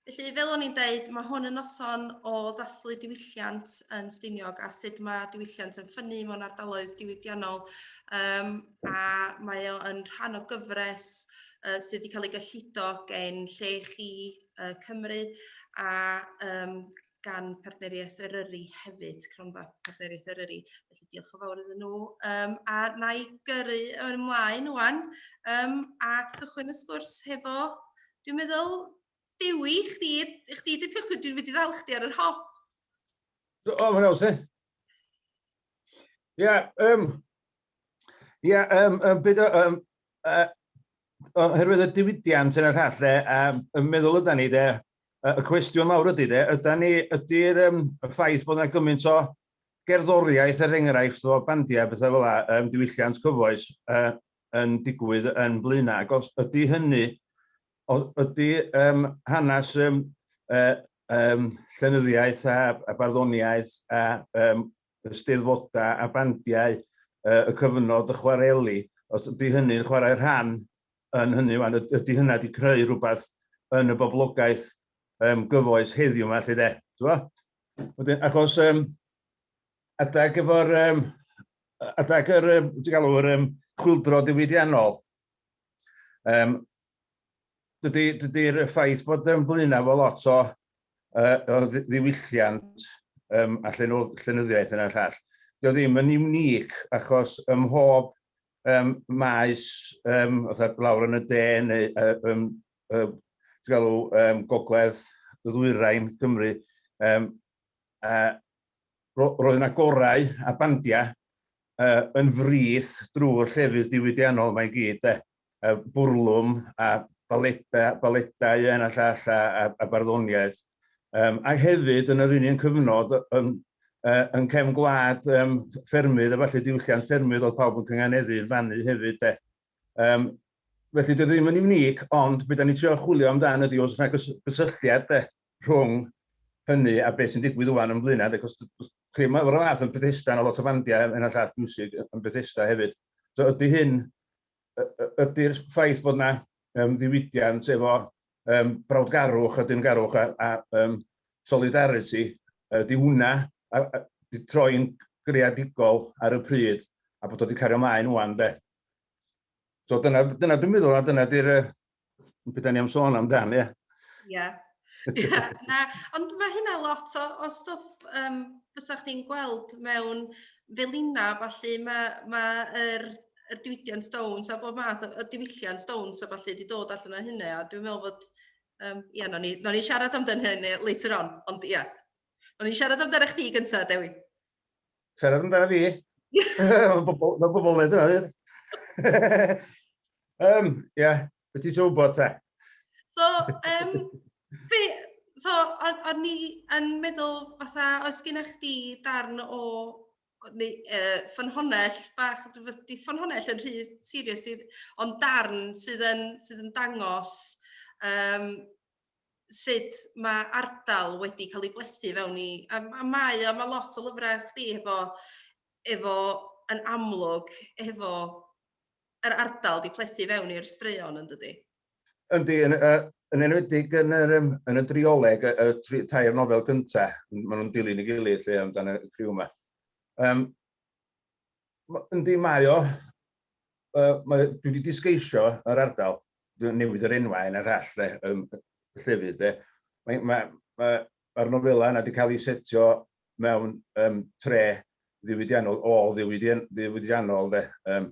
Felly, fel o'n i'n deud, mae hwn yn noson o ddathlu diwylliant yn Stiniog a sut mae diwylliant yn ffynnu mewn ardaloedd diwydiannol um, a mae o yn rhan o gyfres uh, sydd wedi cael ei gyllido gen lle chi uh, Cymru a um, gan Partneriaeth Eryri hefyd, cronfa Partneriaeth Eryri. Felly diolch yn fawr iddyn nhw. Um, a na i gyrru yn ymlaen wan um, a cychwyn y sgwrs hefo, dwi'n meddwl, Dewi, chdi, chdi di cychwyn, dwi'n mynd i ddal chdi ar yr hop. O, mae'n awsyn. Ie, um, Ie, yeah, um, um, byd o, um, uh, oherwydd y diwydiant yn y llall, le, um, yn meddwl yda ni, de, y cwestiwn mawr ydy, de, yda ni, ydy'r um, ffaith bod yna gymaint o gerddoriaeth er enghraifft o bandiau bethau fel yna, um, diwylliant cyfoes uh, yn digwydd yn blaenau, ac os ydy hynny, os ydy um, hanes um, uh, um, llenyddiaeth a, a barddoniaeth a um, y Steddfodau a bandiau y cyfnod y chwareli, os ydy hynny'n chwarae rhan yn hynny wan, ydy hynna wedi creu rhywbeth yn y boblogaeth um, gyfoes heddiw yma, lle de. Wedyn, achos um, adag efo'r um, adag yr um, galw'r um, chwildro diwydiannol, um, dydy, dydy ffaith bod yn blaenau efo lot o, uh, o ddiwylliant um, a llenyddiaeth yna llall, dio ddim yn unic achos ym mhob um, maes, um, oedd lawr yn y de neu um, um, galw, um, gogledd ddwyrain Cymru, um, a ro roedd yna gorau a bandiau uh, yn frith drwy'r llefydd diwydiannol mae'n gyd. De. y bwrlwm a baleta, baletau yn a llall a, a, a barddoniaeth. Um, a hefyd yn yr union cyfnod yn, uh, yn cefn gwlad um, ffermydd a falle diwylliant ffermydd oedd pawb yn cynganeddu yn fannu hefyd de. Um, felly dwi ddim yn unig, ond beth da ni trio chwilio amdan ydy os yna gysylltiad de, rhwng hynny a beth sy'n digwydd wwan yn Blaenau, ac os chi mae o'r fath yn Bethesda, yna lot o fandiau yn y llall music yn Bethesda hefyd. So ydy hyn ydy'r ffaith bod yna um, ddiwydiant efo um, brawdgarwch a dyngarwch a, a um, solidarity, ydy hwnna a, a, di troi'n greadigol ar y pryd a bod o wedi cario maen wan de. So dyna, dyna dwi'n meddwl a dyna di'r beth ni'n sôn amdan, ie. Ie. Yeah. na, ond mae hynna lot o, o stwff um, fysa chdi'n gweld mewn felina, falle mae, mae yr, yr diwydiant stones a bob math o, o diwylliant stones a falle wedi dod allan o hynny, a dwi'n meddwl bod, um, ie, yeah, no ni, no ni siarad amdano hynny later on, ond ie. Yeah. No ni siarad amdano chdi gyntaf, Dewi. Siarad amdana fi. Mae bobl yn gwneud yna, dweud. um, ie, yeah. beth ti'n gwybod te? So, um, be, so, o'n ni yn meddwl, fatha, oes gen chdi darn o neu uh, ffynhonell bach, di ffynhonell yn rhy serious, ond darn sydd yn, sydd yn dangos um, sut mae ardal wedi cael ei blethu fewn i... A, a mae o, mae lot o lyfrau chdi efo, efo yn amlwg, efo yr ardal di plethu fewn i'r straeon yn dydy? Yndi, yn, uh, yn enwedig yn, yr, um, yn y drioleg, y, y tri, tair nofel gyntaf, maen nhw'n dilyn y gilydd lle amdano y criw yma. Um, Yndi, mae o. Uh, mae, dwi wedi disgeisio yr ardal, dwi'n newid yr enwau yn yr hall, le, um, llefydd. De. Mae'r mae, mae, mae nofela yna wedi cael ei setio mewn um, tre ddiwydiannol, ôl ddiwydiannol, de, um,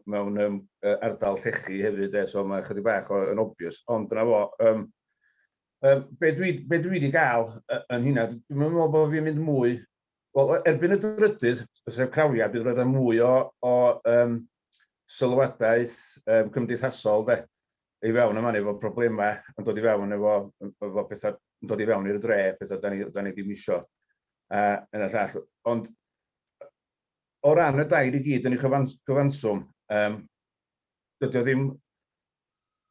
mewn um, ardal llechi hefyd, de, so mae chydig bach o, yn obvious. Ond dyna fo, um, um, be, dwi, be dwi wedi gael yn hynna, dwi'n meddwl bod fi'n mynd mwy Wel, erbyn y drydydd sef crawiad, bydd roedd yna mwy o, o um, sylwadaeth um, cymdeithasol de, i fewn yma efo problemau yn dod i fewn efo, efo pethau yn dod i fewn i'r dre, pethau da ni, da ni ddim isio. A, yn y llall. Ond o ran y dair i gyd yn ei chyfanswm, um, dydy o ddim,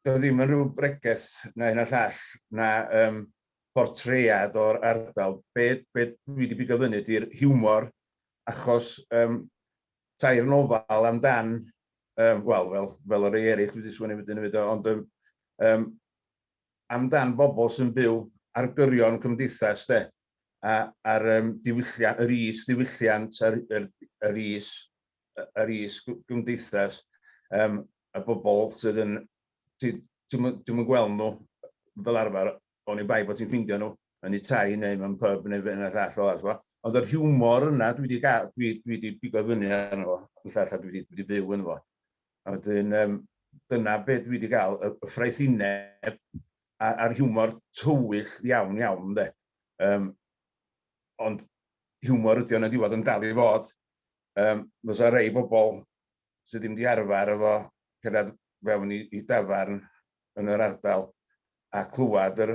dydy o ddim yn rhyw bregeth na hyn a llall, na um, portread o'r ardal, be be dwi 'di bigo fyny ydi'r hiwmor, achos um, tair nofal amdan, um, wel, fel, fel y rei eraill wedi sgwennu wedyn hefyd, ond um, um, amdan bobl sy'n byw ar gyrion cymdeithas, de, a, ar um, diwylliant, yr is diwylliant, yr, yr, yr is, yr is gymdeithas, um, y bobl sydd yn Dwi'm yn gweld nhw fel arfer, oni bai bod ti'n ffeindio nhw yn eu tai neu mewn pub neu be' 'na llall o t'mo'. Ond yr hiwmor yna dwi 'di ga- dwi dwi 'di pigo fyny arno fo yn llall a dwi 'di dwi 'di byw ynddo fo. A wedyn yym dyna be' dwi 'di ga'l y y ffraethineb a a'r hiwmor tywyll iawn iawn ynde? Yym ond hiwmor ydi o yn y diwedd yn dal i fod. Yym fysa rei bobol sydd ddim 'di arfer efo cerddad fewn i i dafarn yn yr ardal a clywad yr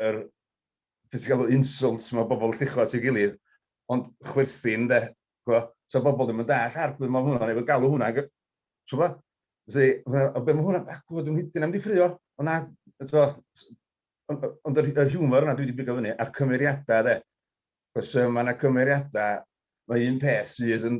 yr be' ti'n galw insults ma' bobol yn lluchio at ei gilydd ond chwerthin 'de ch'mo' sa bobol ddim yn dall' ar be' ma' hwnna'n ei fod galw hwnna ag yy t'mo'? Felly ma' o be' ma' hwnna a clywed o'n nhidyn am 'di ffrio o na t'mo' s- ond yy ond yr y hiwmor yna dwi 'di bigo fyny a'r cymeriada 'de 'c'os yym ma' 'na cymeriada ma' un peth sydd yn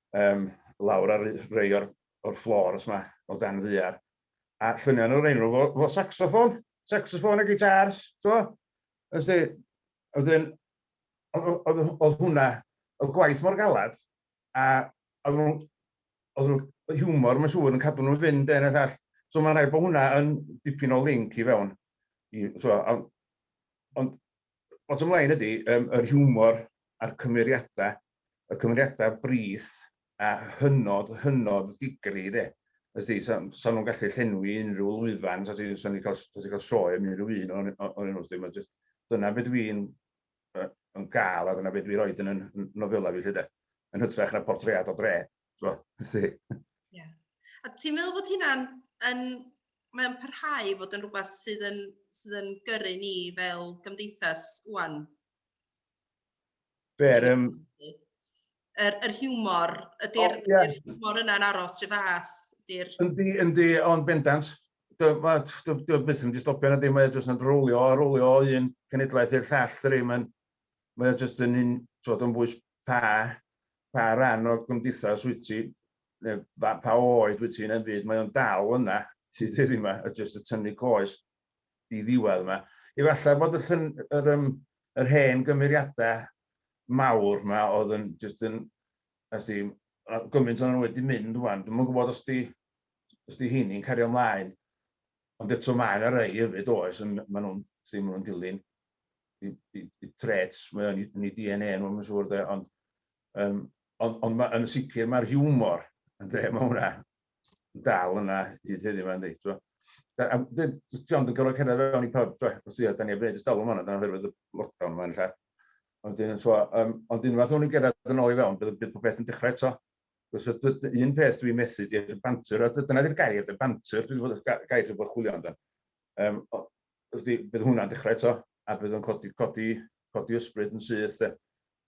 um, lawr ar rei o'r, or floors yma, o dan ddiar. A lluniau o'r enw fo, fo saxophone, saxophone a guitars, so. Ysdi, wedyn, oedd hwnna, oedd gwaith mor galad, a oedd nhw'n hiwmor, mae'n siŵr, yn cadw nhw'n fynd yn all. So mae'n rhaid bod hwnna yn dipyn o link i fewn. I, so, ond, ond bottom line ydy, um, yr hiwmor a'r cymeriadau y cymeriadau brith a hynod, hynod ddigri de. Os di, so, so nhw'n gallu llenwi unrhyw lwyfan, so ti'n so ni cael, so cael sioe am unrhyw un o'n o'n nhw, dim ond just, dyna beth dwi'n uh, yn gael a dyna beth dwi'n rhoi yn y nofela fi lle de. Yn hytrach na portread o dre, so, si. Yeah. A ti'n meddwl bod hynna'n yn mae'n parhau fod yn rhywbeth sydd yn, sydd yn gyrru ni fel gymdeithas wwan? Be'r... Um... Yr, yr hiwmor, ydy'r oh, yeah. hiwmor yna'n aros rhy fas? Yndi, yndi, ond bendant. Dwi byth yn di stopio na dim, mae jyst yn rwlio, rwlio o un cenedlaeth i'r llall, dyri, mae'n mae jyst yn un, twod, yn bwys pa, pa ran o gymdeithas wyt ti, neu pa oed wyt ti'n yn byd, mae o'n dal yna, sydd ddim yma, a jyst y tynnu coes. i ddiwedd yma. Efallai bod y llyn, yr, um, yr hen gymeriadau mawr yma oedd yn just yn, as di, gymaint o'n wedi mynd rwan, dwi'n gwybod os di, os di hini'n cario ymlaen, ond eto mae yna rei hefyd oes, yn, maen nhw'n, sy'n nhw'n dilyn i, i, i trets, mae o'n i DNA nhw, mae'n siŵr, de, ond, um, ond, ond ma, yn sicr mae'r hiwmor yn dre mae hwnna, dal yna hyd heddiw yma, yndi. Ti'n gwbod? A dwi, John, dwi'n gorfod cerdded fewn i pub, ti'n gwbod, os da ni heb wneud y stolwm hwn, dyna oherwydd y lockdown yma yn lle. Ond dyn, ti'n gwbod, um, ond unwaith o'n i'n gerdded yn ôl i fewn, bydd, bydd popeth yn dechrau eto. Cos un peth dwi'n methu, di'r bantur, a dyna di'r gair, di'r bantur, dwi'n bod gair dwi'n bod chwilio amdan. Um, bydd hwnna'n dechrau eto, a bydd o'n codi, codi, codi ysbryd yn syth, de.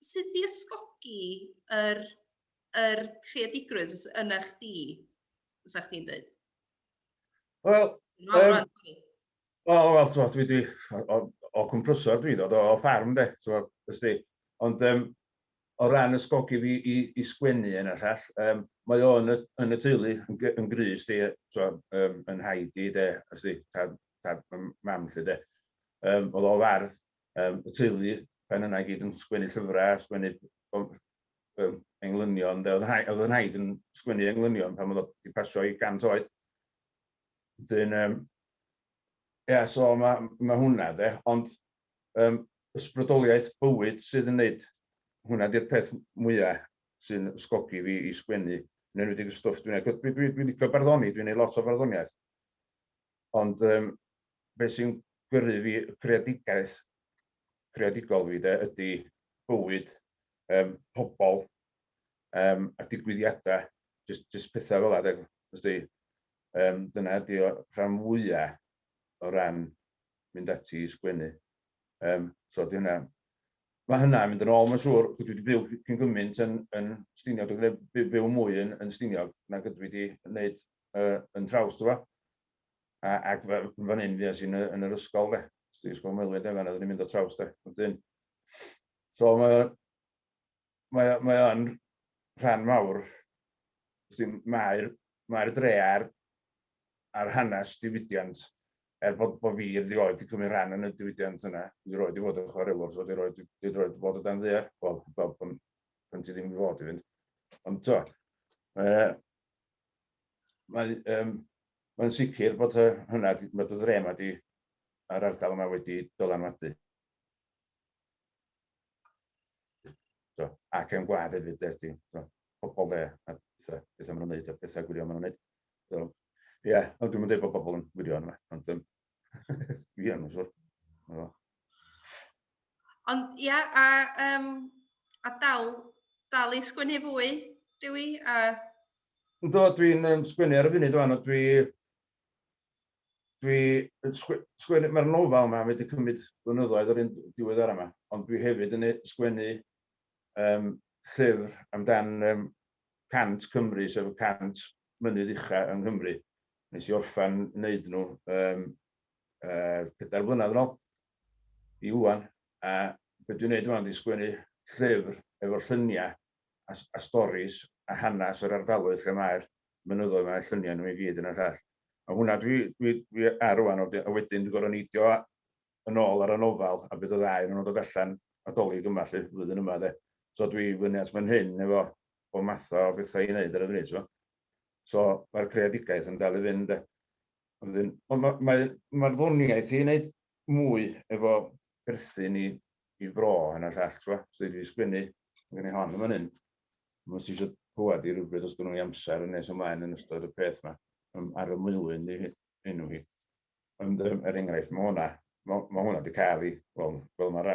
sut i ysgogi yr, yr creadigrwydd yna chdi, fysa chdi'n dweud? Wel, um, Wel, wel, ti'n dwi, dwi, o, o cwmprysor dwi'n dod, o, o ffarm de, ti'n gwybod, Ond um, o ran ysgogi fi i, i sgwennu yn y llall, um, mae o yn y, yn y teulu yn, yn grys di, so, um, yn haid i de, ysdi, tad, tad mam lle de. Um, oedd o fardd um, y teulu, pan yna i gyd yn sgwennu llyfrau, sgwennu um, englynion, oedd yn haid yn sgwennu englynion pan oedd wedi pasio i gant oed. Dyn, um, ia, so mae ma hwnna, de, ond um, ysbrydoliaeth bywyd sydd yn neud hwnna di'r peth mwyaf sy'n sgogi fi i sgwennu, yn enwedig y stwff dwi'n ei... Dwi'n dwi, dwi, dwi licio barddoni, dwi'n ei lot o farddoniaeth. Ond um, beth sy'n gyrru fi creadigaeth, creadigol fi de, ydy bywyd, um, pobl um, a digwyddiadau, just, just pethau fel yna. Ysdi, um, dyna ydy o rhan fwyaf o ran mynd ati i sgwennu. Um, so di hynna. Mae hynna mynd yn ôl, mae'n siŵr, dwi wedi byw cyn gymaint yn, yn Stiniog, dwi'n byw mwy yn, yn Stiniog nag ydw i wedi gwneud yy yn traws t'bo'? A ac fel fan 'yn fues i'n yy yn yr ysgol 'de. Os ti ysgol Maelwy de fan 'na oedden ni'n mynd o traws 'de. Wedyn so mae o mae o mae o'n rhan mawr wsti mae'r mae'r dre a'r a'r hanes diwydiant er bod bod fi erioed 'di cymryd rhan yn y diwydiant yna, dwi erioed 'di bod yn chwarelwr so dwi erioed dwi dwi erioed 'di bod o dan ddaear, wel heblaw pan pan ti ddim i fod i fynd. Ond t'wo' yy mae, um, mae'n sicr bod hynna, mae dy dre yma di, a'r ardal yma wedi dylanwadu. So, ac yn gwlad hefyd, dweud ti, so, pobol dde, a bethau, bethau maen nhw'n neud, a bethau gwirion maen nhw'n neud. So, ie, yeah, ond dwi'n mynd bod pobol yn gwirion yma, ond um, Dwi am yn siwr. Ond ia, a, um, a dal, dal i sgwennu fwy, Dewi? A... Do, dwi'n um, sgwennu ar y funud o'n, dwi... Dwi... Sgwennu... Mae'r nofel yma wedi cymryd blynyddoedd yr un diwedd ar yma, ond dwi hefyd yn sgwennu um, llyfr amdan um, cant Cymru, sef y cant mynydd ucha yng Nghymru. Nes i orffen wneud nhw um, uh, pedair blynedd yn ôl i wwan, a beth dwi'n neud yma ydy sgwennu llyfr efo lluniau a, a storis a hanes yr ardaloedd lle mae'r mynyddoedd mae'r lluniau nhw i gyd yn y llall. A hwnna dwi, dwi, dwi ar rwan, a wedyn dwi'n gorau neidio yn ôl ar y nofel, a bydd y ddau yn dod allan adolyg yma lle, flwyddyn yma de. So dwi fyny at fan hyn efo o math o bethau i wneud ar y funud, so. So mae'r creadigaeth yn dal i fynd. Wedyn, ond mae'r mae, mae, mae ddoniaeth i wneud mwy efo perthyn i, i fro yn y llall, ti'n So i fi sgwennu, mae gen i hon yn fan hyn. Mae si eisiau clywed i rhywbryd os gynnu i amser yn nes ymlaen yn ystod y peth yma, um, ar y mwylun i enw hi. Ond um, er enghraifft, mae hwnna, mae, mae hwnna wedi cael ei, wel, fel mae'r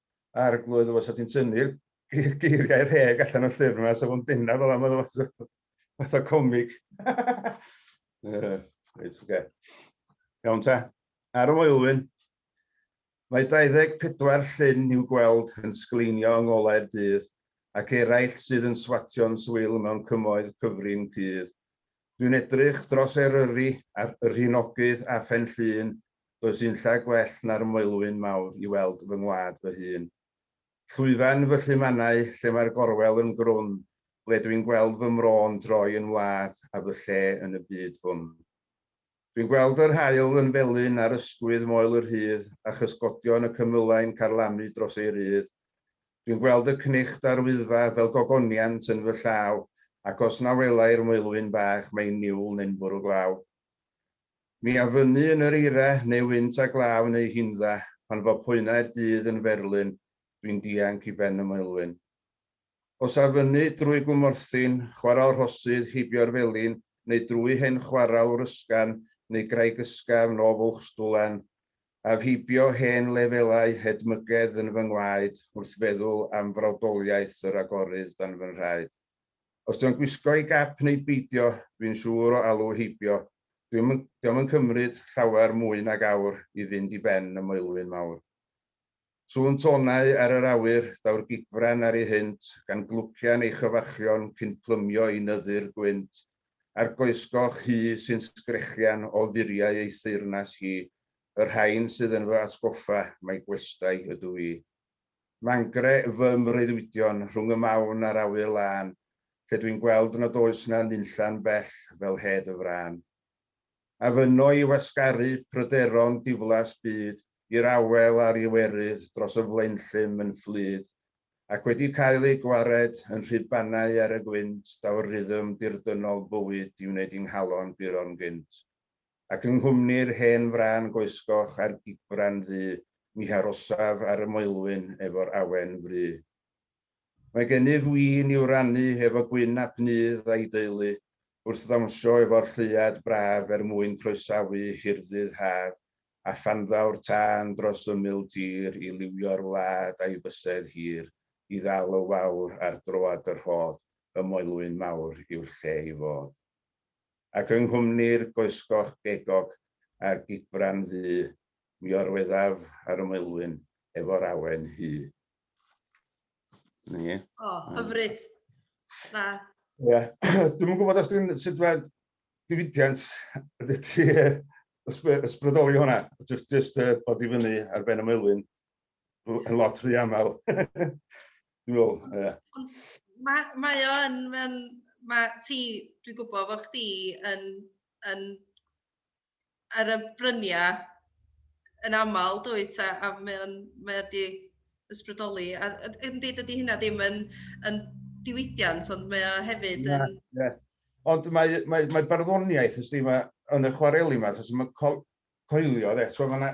Arglwydd, efo sa ti'n tynnu'r geiriau rheg allan o'r llyfr yma, sa fo'n bennaf fel am oedd fath o comic. Reit, oce. Iawn ta. Ar y Moelwyn, mae 24 llyn i'w gweld yn sgleinio yng ngolau'r dydd, ac eraill sydd yn swatio'n swil mewn cymoedd cyfrin cudd. Dwi'n edrych dros Eryri a'r Rhinogydd a Phenllyn Does unlle gwell na'r Moelwyn Mawr i weld fy ngwlad fy hun. Llwyfan fy llu mannau, lle mae'r gorwel yn grwn, ble dwi'n gweld fy mro'n troi yn wlad a fy lle yn y byd hwn. Dwi'n gweld yr haul yn felyn ar ysgwydd Moel y Rhydd a chysgodion y cymylau'n carlamu dros ei rydd. Dwi'n gweld y cnicht a'r Wyddfa fel gogoniant yn fy llaw ac os na welai'r Moelwyn Bach mae'n niwl neu'n fwrw glaw. Mi a fynnu yn yr eira, neu wynt a glaw neu hindda, pan fo poenau'r dydd yn ferlyn, dwi'n dianc i ben y moelwyn. Os a fynnu drwy gwmorthyn, chwarel rhosydd, heibio'r felin, neu drwy hen chwarel wrysgan, neu graig ysgafn o Fwlchstwlan, af heibio hen lefelau hedmygedd yn fy ngwaed, wrth feddwl am frawdoliaeth yr agorydd dan fy nhraed. Os dio'n gwisgo ei gap neu beidio, fi'n siŵr o alw heibio, dio'm yn, dio'm yn cymryd llawer mwy nag awr i fynd i ben y Moelwyn Mawr. Sŵn tônau ar yr awyr, daw'r gigfran ar ei hynt, gan glwcian ei chyfarchion cyn plymio i nyddu'r gwynt, a'r goesgoch hŷ sy'n sgrechian o furiau ei theyrnas hi, y rhain sydd yn fy atgoffa mai gwestai ydw i. Mangre fy mreuddwydion rhwng y mawn a'r awyr lân, lle dwi'n gweld nad oes 'na nunlla'n bell fel hed y frân. A fynno i wasgaru pryderon diflas byd i'r awel a'r Iwerydd dros y flaenllym yn fflyd, ac wedi cael eu gwared yn rhy banau ar y gwynt daw'r rhythm dirdynnol bywyd i wneud i nghalon guro'n gynt. ac yng nghwmni'r hen frân goesgoch a'r gigfran ddu, mi harosaf ar y moelwyn efo'r awen fru. Mae gennyf win i'w rannu efo Gwyn ap Nudd a'i deulu, wrth ddawnsio efo'r lleuad braf er mwyn croesawu hirddydd haf a phanddaw'r tân dros ymyl tir i liwio'r wlad a'i fysedd hir i ddal y wawr ar droad y rhod, y moelwyn mawr yw'r lle i fod. Ac yng nghwmni'r goesgoch gegog a'r gigfran ddu, mi orweddaf ar y Maelwyn efo'r awen hŷ. Ni. O, hyfryd. Na. Ie. Dwi'm yn gwybod os dwi'n sut mae diwydiant ydy ti ysbrydoli hwnna. Just, just uh, bod i fyny ar ben y maelwyn yn lot rhy aml. Dwi'n meddwl, ie. Mae, mae o yn, mae'n, mae ti, dwi'n gwybod fod chdi yn, yn, ar y bryniau yn aml, dwi ta, a mae o'n, mae o'n di ysbrydoli. A, yn dweud ydy hynna ddim yn, yn diwydiant, ond mae o hefyd yn... Yeah, yeah. Ond mae, mae, mae barddoniaeth, ysdi, mae, yn y chwareli yma, mae coelio, dde, so mae yna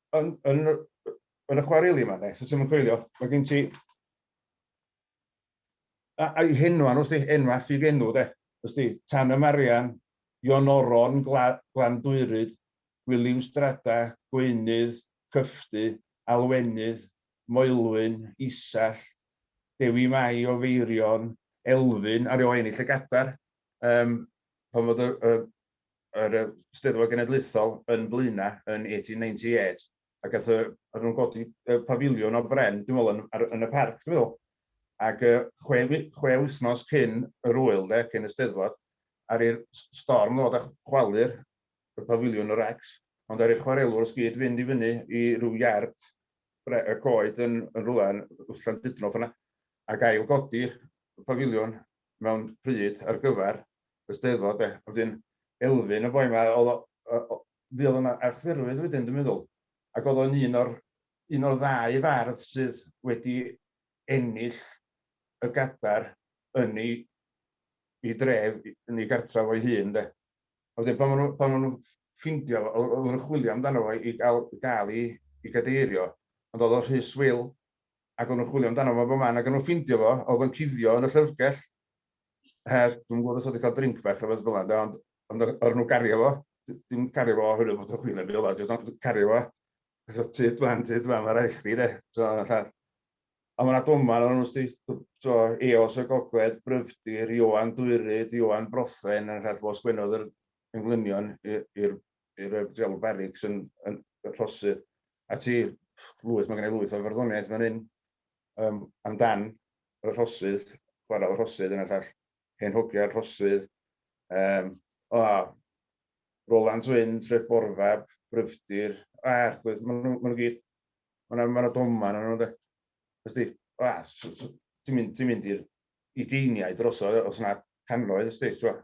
yn, yn, yn y chwareli yma, de, so ti'n coelio, mae gen ti... A, a i henwa nhw, sdi, enwa ffug enw, de. Sdi, Tan y Marian, Ion Oron, Gla, Glan Dwyryd, Gwiliw Strada, Gweinydd, Cyffdy, Alwenydd, Moelwyn, Isall, Dewi Mai o Feirion, Elfyn, a rhyw ennill y gadar. Um, pan fod y, y, yr yy Steddfod Genedlaethol yn Blaena yn 1898 a gath yy o'n nhw'n godi yy pafiliwn o bren dwi'n me'wl yn ar yn y parc dwi'n me'wl ac yy chwe wi- chwe wythnos cyn yr ŵyl de cyn y Steddfod ar i'r s- storm ddod a chwalu'r y pafiliwn y recs ond ar i'r chwarelwr os gyd fynd i fyny i ryw iard bre- y coed yn yn rwla yn Llandudno ffor 'na ac ail godi y pafiliwn mewn pryd ar gyfer y Steddfod de. A wedyn Elfyn, y boi 'ma, o'dd o yy o- fuodd o'n a- Arthurwydd wedyn dwi'n meddwl, ac o'dd o'n un o'r un o'r ddau fardd sydd wedi ennill y Gadar yn 'i 'i dref, yn 'i gartref o'i hun de. A wedyn pan ma' nw pan ma' nw'n ff- ffindio fo, o- oddan nw'n chwilio amdano fo i ga'l ga'l 'i 'i gadeirio, ond o'dd o rhy swil, ac o'n nhw'n chwilio amdano fo bob man, ac o'n nhw'n ffeindio fo, oedd o'n cuddio yn y llyfrgell, heb, dwi'n gwybod os oedd wedi cael drink bach neu beth fel yna, ond, ond o'r nhw'n gario fo, dim cario fo oherwydd bod o'n chwilio am beth, jyst cario fo, so tu dwan, tu dwan, mae rhaid chdi de, so yna llall. A mae'n adoman o'n nhw'n sti, so Eos y Gogled, Bryfdir, Ioan Dwyrid, Ioan Brothen, yna llall fo sgwennodd yr englynion i'r Bydd y Rheolwr Barracks yn rhosydd ati lwyth, mae gen i lwyth o farddoniaeth fan hyn amdan y rhosydd, chwarae y rhosydd yn y llall, hen hogiau'r rhosydd, Roland Wyn, Tref Borfab, Bryfdir, a'r gwydd, maen nhw'n gyd, maen nhw'n maen nhw doma yn nhw, ysdi, ti'n mynd i'r ugeiniau drosodd, os yna cannoedd, ysdi, ti'n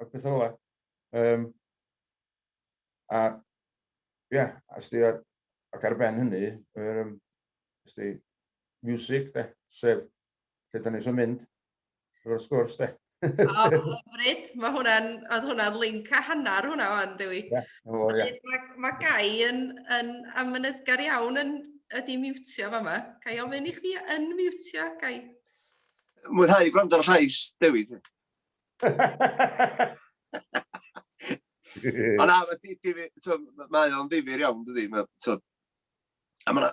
a petha fel 'a. Yym a ia, a sdi ar ac ar ben hynny, yr yym sdi music 'de, sef lle 'dan ni isio mynd efo'r sgwrs 'de. O, hyfryd. Mae hwnna'n, oedd hwnna'n link a hanner hwnna o'n, Dewi. Ie, o, ie. Mae, mae Gai yn, yn amynyddgar iawn yn, ydi miwtio fa yma. Gai ofyn i chdi yn miwtio, Gai? Mwynhau gwrando ar y llais, Dewi. Ond na, mae di, di, so, mae o'n ddifir iawn, dydy. Mae, so, a mae yna,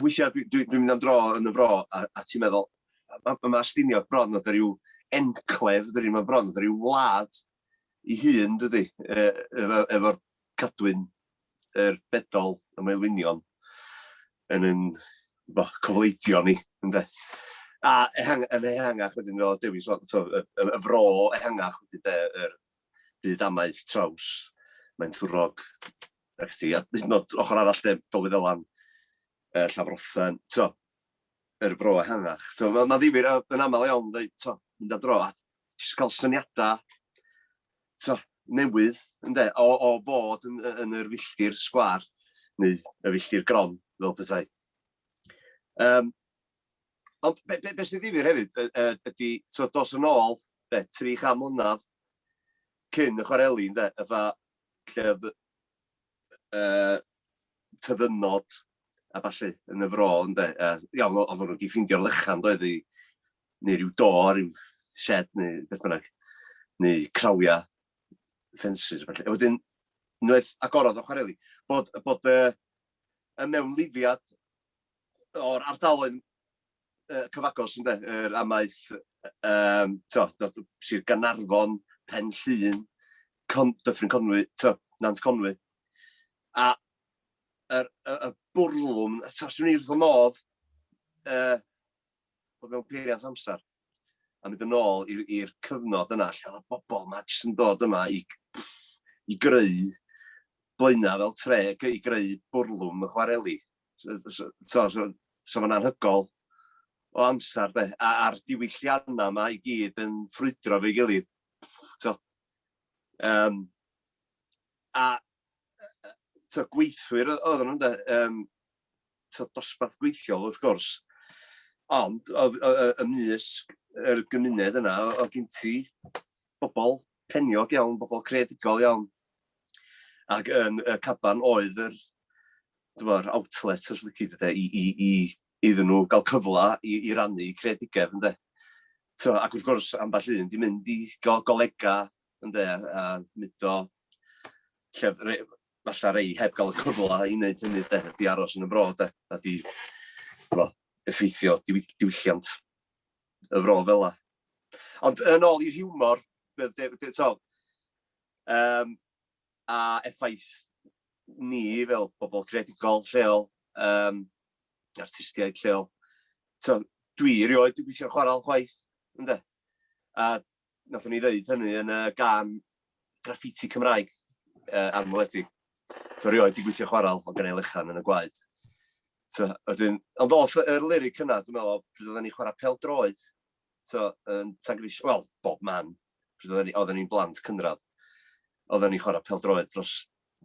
weithiau dwi'n dwi, dwi mynd am dro yn y fro, a, a ti'n meddwl, mae ma, ma Stiniog bron oedd rhyw enclef, dydy, mae bron oedd rhyw wlad i hun, dydy, e, efo'r cadwyn yr bedol y maelwynion yn yn bo, cofleidio ni ynde? A ehang, yn ehangach wedyn fel Dewi'n sôn, so, y, y, y fro ehangach wedyn de, yr byd amaeth traws, mae'n thwrog, ac ti, a hyd yn oed ochr arall de, Dolfyd Elan, uh, Llafrothen, to, yr fro ehangach. So, mae'n ma ddifir yn aml iawn, dweud, to, mynd am dro, a jyst cael syniadau so, newydd ynde, o, o fod yn, yn yr filltir sgwar neu y filltir gron fel pethau. Um, ond be, be, be sy'n ddifur hefyd ydy, so, dos yn ôl be, tri cha mlynedd cyn y chwareli ynde, yfa lle oedd uh, tyddynod a falle yn y fro ynde, uh, iawn oedd nhw wedi ffindio'r lychan doedd i neu rhyw door, rhyw shed neu beth bynnag, neu crawiau, ffensys a falle. A wedyn, unwaith agorodd o chwareli, bod, bod y, y mewnlifiad o'r ardaloedd uh, cyfagos yn dweud, yr amaeth, um, to, Sir Ganarfon, Pen Llun, Con, Dyffryn Conwy, to, Nant Conwy. A y, y, y bwrlwm, taswn i'n wrth y modd, uh, bod mewn peiriant amser a mynd yn ôl i'r cyfnod yna lle oedd y bobl yma jyst yn dod yma i, i greu blaenau fel tre, i greu bwrlwm y chwareli. So, so, so, so, so mae'n anhygol o amser, de, a'r diwylliannau yma i gyd yn ffrwydro fe gilydd. So, um, a so, gweithwyr oedd nhw'n de, um, so, dosbarth gweithiol wrth gwrs, ond y mysg yr gymuned yna, oedd gen ti bobl peniog iawn, bobl creadigol iawn, ac yn y caban oedd yr, dyma'r outlet, os lyci, de, i, i, i, iddyn nhw gael cyfle i, i rannu creadigedd, ynddo. So, ac wrth gwrs, ambell un di mynd i go golega Ynde, a, a mudo lle re, falle rei heb gael y cyfle i wneud hynny, de, di aros yn y fro, de, a di fo, effeithio diwy, diwylliant y fro fel la. Ond yn ôl i'r hiwmor, um, a effaith ni fel bobl creadigol lleol, um, artistiaid lleol, so, dwi erioed wedi gweithio chwarael chwaith, ynde? A Nathon ni ddeud hynny yn y gan graffiti Cymraeg uh, anweledig. So rioed di gweithio chwaral o gan ei lechan yn y gwaed. So, ydyn, ond oll y lyric yna, dwi'n meddwl, pryd oedden ni chwarae pel droed, so, yn Tangris, wel, bob man, pryd oedden ni, oedden ni'n blant cynradd, oedden ni'n chwarae pel droed dros,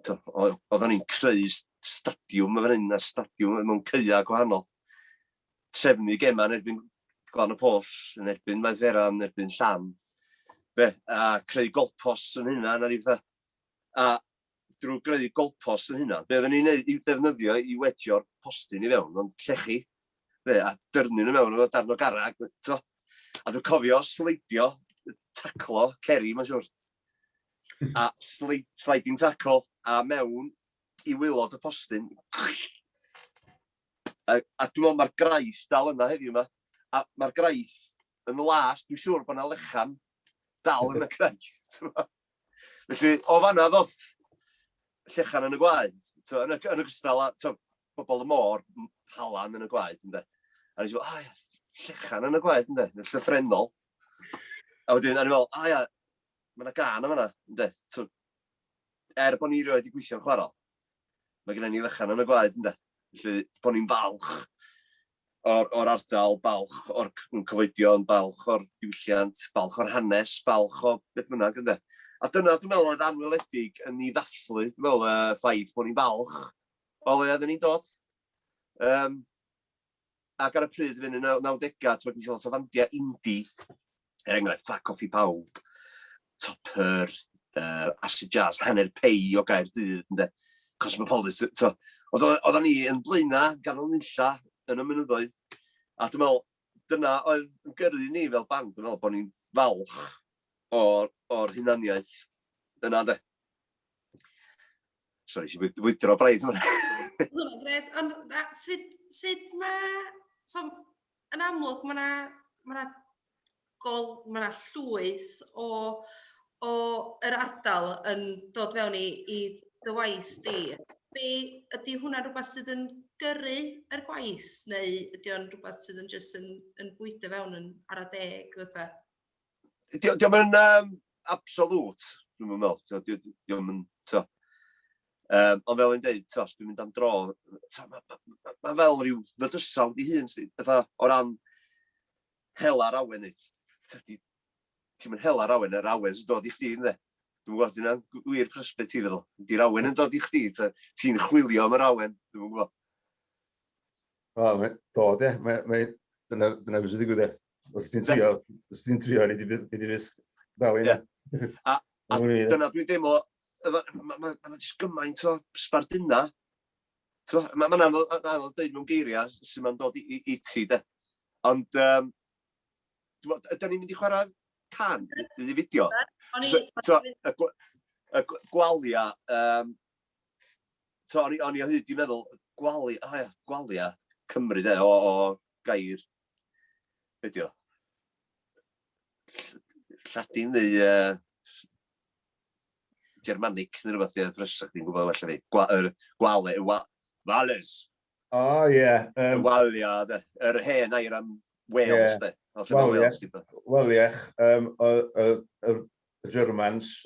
oedden ni'n creu stadiwm yn fan hyn, a stadiwm mewn ceia gwahanol. trefnu gemau yn erbyn Glan y Pwll, yn erbyn Maenferan, yn erbyn Llan, be, a creu golpos yn hynna, na ni fatha. A drwy greu golpos yn hynna, be oedden ni'n ei ddefnyddio i wedio'r postyn i fewn, ond llechi, be, a dyrnu nhw mewn o'n darn o garag, to. A dwi'n cofio sleidio, taclo, ceri, mae'n siwr. A sleid, sliding tackle, a mewn i wylod y postyn. A, a dwi'n meddwl mae'r graith dal yna heddiw 'ma. A mae'r graith yn las, dwi'n siŵr bod yna lechan dal yn y graith. Felly, o fanna ddoth llechan yn y gwaed. So, yn, y, yn y gystal a so, bobl y môr, halan yn y gwaed. Ynde. A nes i fod, oh, llechan yn y gwaed, ynde, yn llythrenol. A wedyn, a ni'n meddwl, a ia, mae yna gan yma yna, ynde. So, er bod ni rioed wedi gweithio'n chwarae, Mae gennym ni fychan yn y gwaed ynde? Felly, bod ni'n falch o'r, o'r ardal, balch o'r cyfoedion, balch o'r diwylliant, balch o'r hanes, balch o beth bynnag ynde? A dyna, dwi'n meddwl, oedd anweledig yn ni ddathlu, dwi'n meddwl, y ffaith bod ni'n falch o le oedden ni'n dod. Um, ac ar y pryd fynd yn y nawdegau, ti'n gwybod, so fandiau indie, er enghraifft, Ffac Off i Bawb, Topper, uh, Acid Jazz, Hanner Pei o gair dydd, ynddo, Cosmopolis, so, oedden ni yn blaena ganol nunlla yn y mynyddoedd, a dwi'n meddwl, dyna oedd yn gyrru ni fel band, dwi'n meddwl bod ni'n falch o'r, or hunaniaeth yna, de. Sorry, si fwy- fwydro braidd hwnna. Oedd hwnna'n gret. Ond na, sut, sut mae... So, yn amlwg, mae yna ma 'na gol, mae yna llwyth o, o yr ardal yn dod fewn i, i dy waith di. Be, ydy hwnna rhywbeth sydd yn gyrru yr gwaith, neu ydy o'n rhywbeth sydd yn jyst yn, yn bwydo fewn yn ar y deg fatha? Diolch di, yn um, absolut, dwi'n meddwl. Diolch yn, to. Um, ond fel yn dweud, to, dwi'n mynd am dro, mae ma, ma, ma fel rhyw fydysawd i hun, fatha, o ran hel ar awen i. Ti'n mynd hel ar awen, yr awen sy'n dod i chdi, ynddo. Dwi'n gwybod, dyna'n wir prysbeth ti feddwl. Di'r awen yn dod i chdi, ti'n chwilio am yr awen, dwi'n gwybod. Wel, mae, do, de. Mae, mae, dyna, dyna beth sy'n digwydd, e. Os ti'n trio, os ti'n trio, ni di byth, ni di byth dal un. Yeah. A, a dyna dwi'n deimlo, mae ma, ma, jyst gymaint o sbarduna. Mae'n ma, ma anodd, anodd dweud mewn geiriau sy'n ma'n dod i, i, i ti, de. Ond, um, ydyn ni'n mynd i chwarae can, i fideo. So, y, y gwalia, um, So, o'n i, o'n i o hyd di meddwl, gwali, o ia, gwalia Cymru de, o, o gair, be di o? Lladin neu uh, Germanic neu rhywbeth, ie, brysach di'n gwybod well fi. Gwa, er, gwale, wa, wales. O, oh, ie. Yeah, um, walia, de. Yr hen air am Wales, yeah. de. Wel, ie. Wel, ie. Um, y, y, y Germans,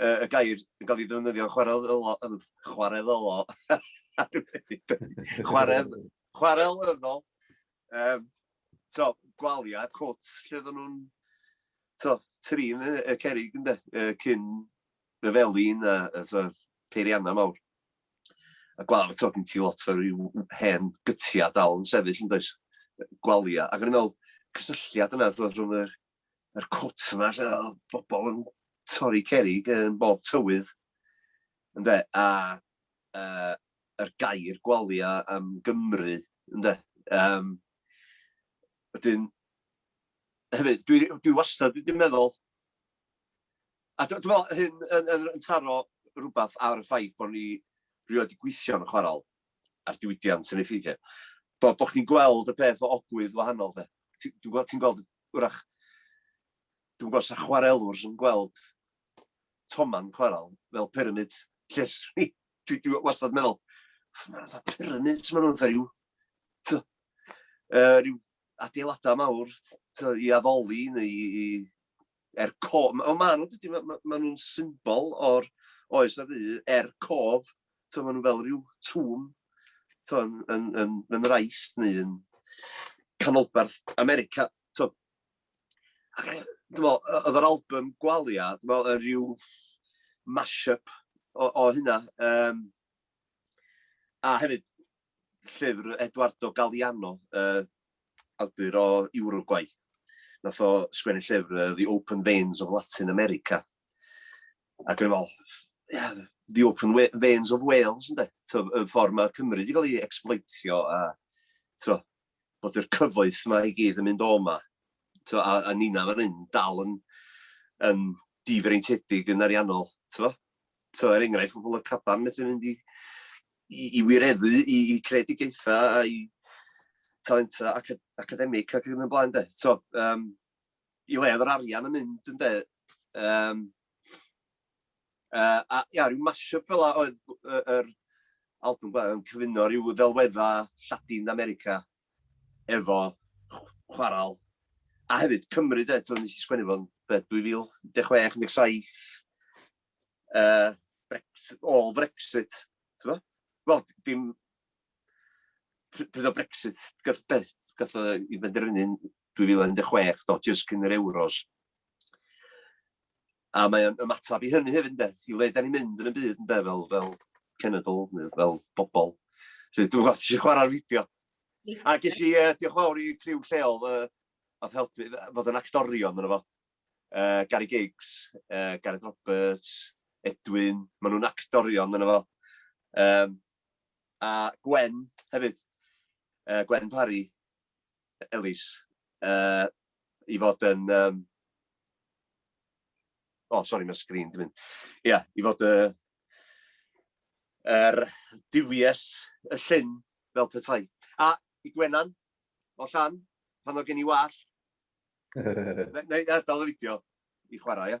uh, y gair yn cael ei ddefnyddio chwarel ylo, chwarel ylo, chwarel, chwarel ylo, um, so, gwaliad, cwt, lle oedden nhw'n, so, trin y, y cerig yn de, uh, cyn y felin a, a so, peirianna mawr. A gwal, so, gen ti lot o ryw hen gytia dal yn sefyll yn does, gwalia. Ac yn meddwl, cysylltiad yna, so, rhwng yr, yr cwt yma, lle oedd bobl yn torri cerrig yn bob tywydd, ynde, a uh, yr gair gwalia am Gymru, ynde. Um, wedyn, hefyd, dwi, dwi wastad wedi meddwl, a dwi'n meddwl hyn yn, yn, yn taro rhywbeth ar y ffaith bod ni rhywbeth wedi gweithio yn y chwarael a'r diwydiant yn ei ffeithiau. Bod, bod chi'n gweld y peth o ogwydd wahanol, de. Ti'n gweld, ti gweld wrach Dwi'm yn gwybod os 'na chwarelwr sy'n gweld toman chwarel fel pyramid, lle 'swn i, dwi dwi wastad yn meddwl, ma' 'na fatha pyramids ma' nhw'n fatha ryw, t'o', yy ryw adeiladau mawr, t'o', i addoli neu i i er co-, on' ma' nhw dydi ma' ma' ma' nhw'n symbol o'r oes ar ddu er cof, t'o' ma' nhw fel ryw tomb, t'o' yn yn yn yn yr Aifft neu yn canolbarth America, t'o'. dwi'n meddwl, oedd yr album Gwalia, dwi'n meddwl, yn rhyw mash-up o, o hynna. Um, a hefyd, llyfr Eduardo Galeano, uh, awdur o Uruguay. Nath o sgwennu llyfr uh, The Open Veins of Latin America. A dwi'n meddwl, yeah, The Open Veins of Wales, ynddo? Y ffordd mae Cymru wedi cael ei exploitio a, tro, bod yr cyfoeth yma i gyd yn mynd o yma. T'mo', a, a Nina fan hyn dal yn, yn difreintiedig yn ariannol, t'mo'? T'mo', er enghraifft, pobl y caban methu mynd i, i, i wireddu, i, i creadigaethau, a i talenta acad academig ac yn y blaen, de. T'mo', um, i le yr arian yn mynd, ynde, um, Uh, a ia, rhyw mashup fel a oedd yr uh, er album ba, yn cyfuno rhyw ddelwedda Lladin America efo chwarael. A hefyd Cymru, de, ti'n nes i sgwennu fo'n 2016, 17, uh, Brexit, all Brexit, ti'n fo? Wel, dim... Pryd o Brexit, gath, be, gath o i benderfynu'n 2016, dodges cyn yr Euros. A mae o'n ymateb i hynny hefyd ynde, i le 'dan ni'n mynd yn y byd ynde, fel fel cenedl neu fel bobl. Felly dwi'm yn gwybod os ti isio chwarae'r fideo. A ges i uh, diolch fawr i criw lleol uh, oedd helpu fod yn actorion yna fo. Uh, Gary Giggs, uh, Gareth Roberts, Edwin, maen nhw'n actorion yna fo. Um, a Gwen hefyd, uh, Gwen Parry, Ellis, yy, i fod yn, um... O, sori, mae'r sgrin di mynd. Ia, i fod y... yr duwies y llyn fel petai. A i Gwenan, o Llan, pan oedd gen i wallt. Neu, neu, adael y fideo i chwarae, ia?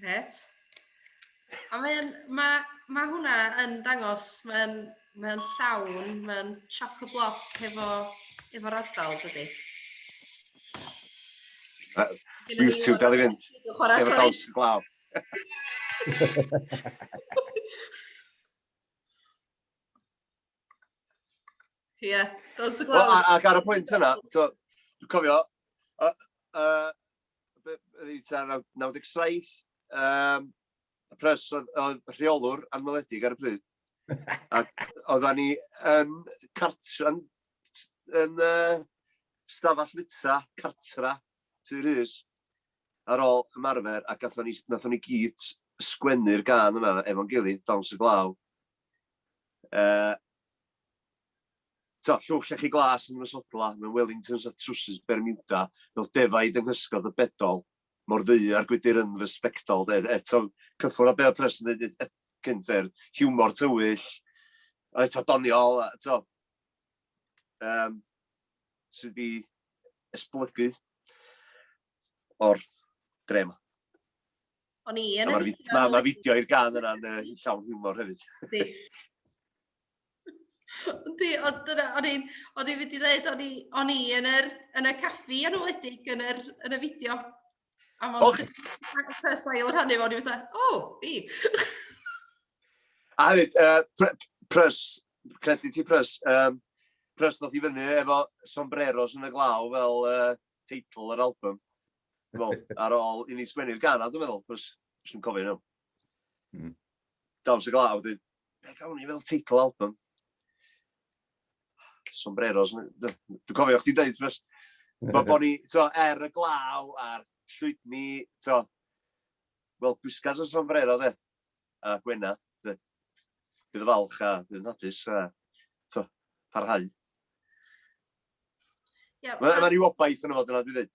Gret. A mae'n, mae, mae hwnna yn dangos, mae'n, mae'n llawn, mae'n choc y bloc efo, efo'r ardal, dydy. YouTube, dal i fynd. Efo daws y glaw. Ie, yeah, dos y glawr. Well, ac ar y pwynt yna, dwi'n cofio, uh, uh, 97, um, y pres oedd rheolwr anweledig ar y pryd. Ac oedden ni yn cartra, yn, yn uh, stafell fita, cartra, tu rhys, ar ôl ymarfer, ac nathon ni, nathon ni gyd sgwennu'r gan yna efo'n gilydd, dawns y glaw, Uh, so, llwch llechi glas yn ymysodla mewn Wellingtons a trwsus Bermuda, fel defaid yng nghysgod y bedol, mor ddu ar gwydir yn fy sbectol. E, eto, cyffwrdd â be oedd Preston yn dweud cynt, er hiwmor tywyll, a eto doniol, eto, um, sydd wedi esblygu o'r dre yma. O'n i yn y fideo. Mae ma fideo i'r gan yna'n uh, llawn hiwmor hefyd. Di. Di, ond dyna, o'n i'n o'n i'n mynd i ddweud, o'n i, o'n i yn, yr, yn y caffi yn wledig yn, yr, yn y fideo. A mae'n oh. ffes ail rhannu fo, o'n i'n mynd, o, oh, fi. a hefyd, uh, prys, credit i prys, um, prys ddoth i fyny efo sombreros yn y glaw fel uh, teitl yr album. Dwi'n meddwl, ar ôl i ni sgwennu'r gan, a dwi'n meddwl, cos, os dwi'n cofio nhw. Mm. Dawns y glaw, dweud, be gawn ni fel teitl album? Sombreros, dwi'n cofio chdi dweud, cos, mae bod ni, to, er y glaw a'r llwydni, to, wel, gwisgas o sombrero, de, a gwena, de. Bydd y falch a bydd yn hapus, a, to, parhau. Yeah, Mae ma rhyw obaith yn y fod yna, dwi'n dweud.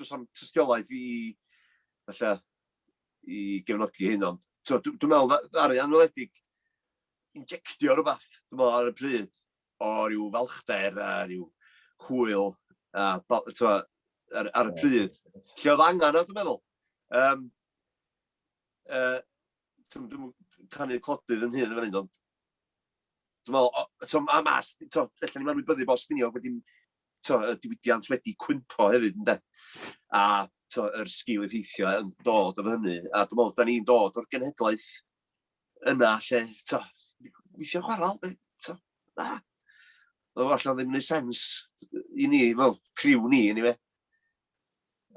Does na'm tystiolaeth i falle i gefnogi hyn ond t'mo' dw dwi'n meddwl dda- ddaru Anweledig injectio rhywbeth, t'mo' ar y pryd o ryw falchder a ryw hwyl a bo- t'mo' ar ar y pryd lle oedd angen o dwi'n meddwl. Yym yy t'm dwi'm yn canu clodydd yn hŷn yn fan hyn ond dwi'n meddwl o- t'mo' ma' mas t'mo' ella ni'n anwybyddu bod Stiniog wedi to, y diwydiant wedi cwympo hefyd, ynde? A to, yr sgil effeithio yn dod o hynny. A dwi'n meddwl, da ni'n dod o'r genhedlaeth yna lle, to, weithio chwarae, be, to, na. Oedd allan ddim yn ei sens i ni, fel criw ni, ni fe.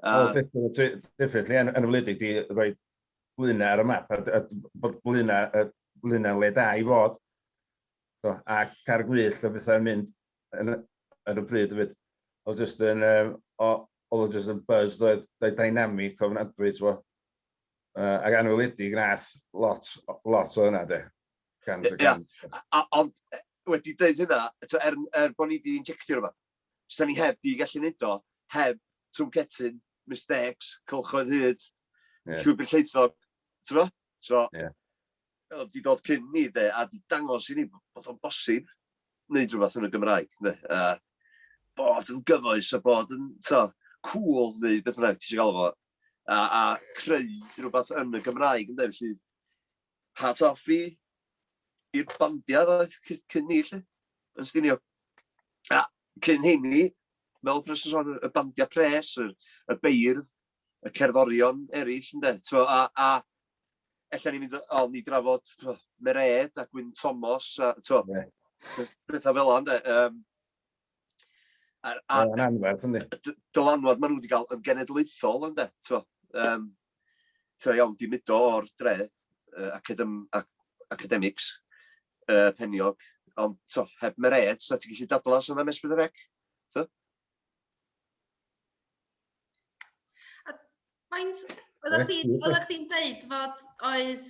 Wel, definitely, yn y wledig, di roi blina ar y map, a bod blina, blina le da i fod. Ac ar gwyll, o bethau yn mynd yn, ar y pryd fyd. Oedd jyst yn, um, oedd o jyst yn buzz, oedd dynamic o ofnadwy, ti'n Uh, ac anweledig nas lot, lot o hynna, de. Gant o gant. Ond wedi dweud hynna, er, er bod ni wedi injectio rhywbeth, sy'n ni heb di gallu neud o, heb trwncetyn, mistakes, cylchoedd hyd, yeah. llwybr lleithog, ti'n fo? So, yeah. Oedd 'di dod cyn 'ny 'de, a 'di dangos i ni bod o'n bosib neud rwbath yn y Gymraeg ynde, a bod yn gyfoes a bod yn, t'mod, cŵl neu beth bynnag ti isio galw fo, a a creu rwbath yn y Gymraeg ynde, felly hats off i i'r bandia' ddoeth cy- cyn 'ny 'lly, yn Stiniog. A cyn 'heiny, fel y person sôn, y bandia' pres, y y beirdd, y cerddorion eraill ynde, t'mo', a a ella ni'n mynd o ni drafod tro, Mered a Gwyn Thomas a tro, yeah. bethau fel yna. Um, a, a, a, anferth, yndi? Dylanwad maen nhw wedi cael yn genedlaethol ynddo, tro. Um, tro iawn, di mudo o'r dre, uh, academ, ac, academics, uh, peniog, ond tro, heb mered, sa ti'n gallu dadlas yna mes bydd y rec? Faint, oeddech chdi'n oeddech chdi'n deud fod oedd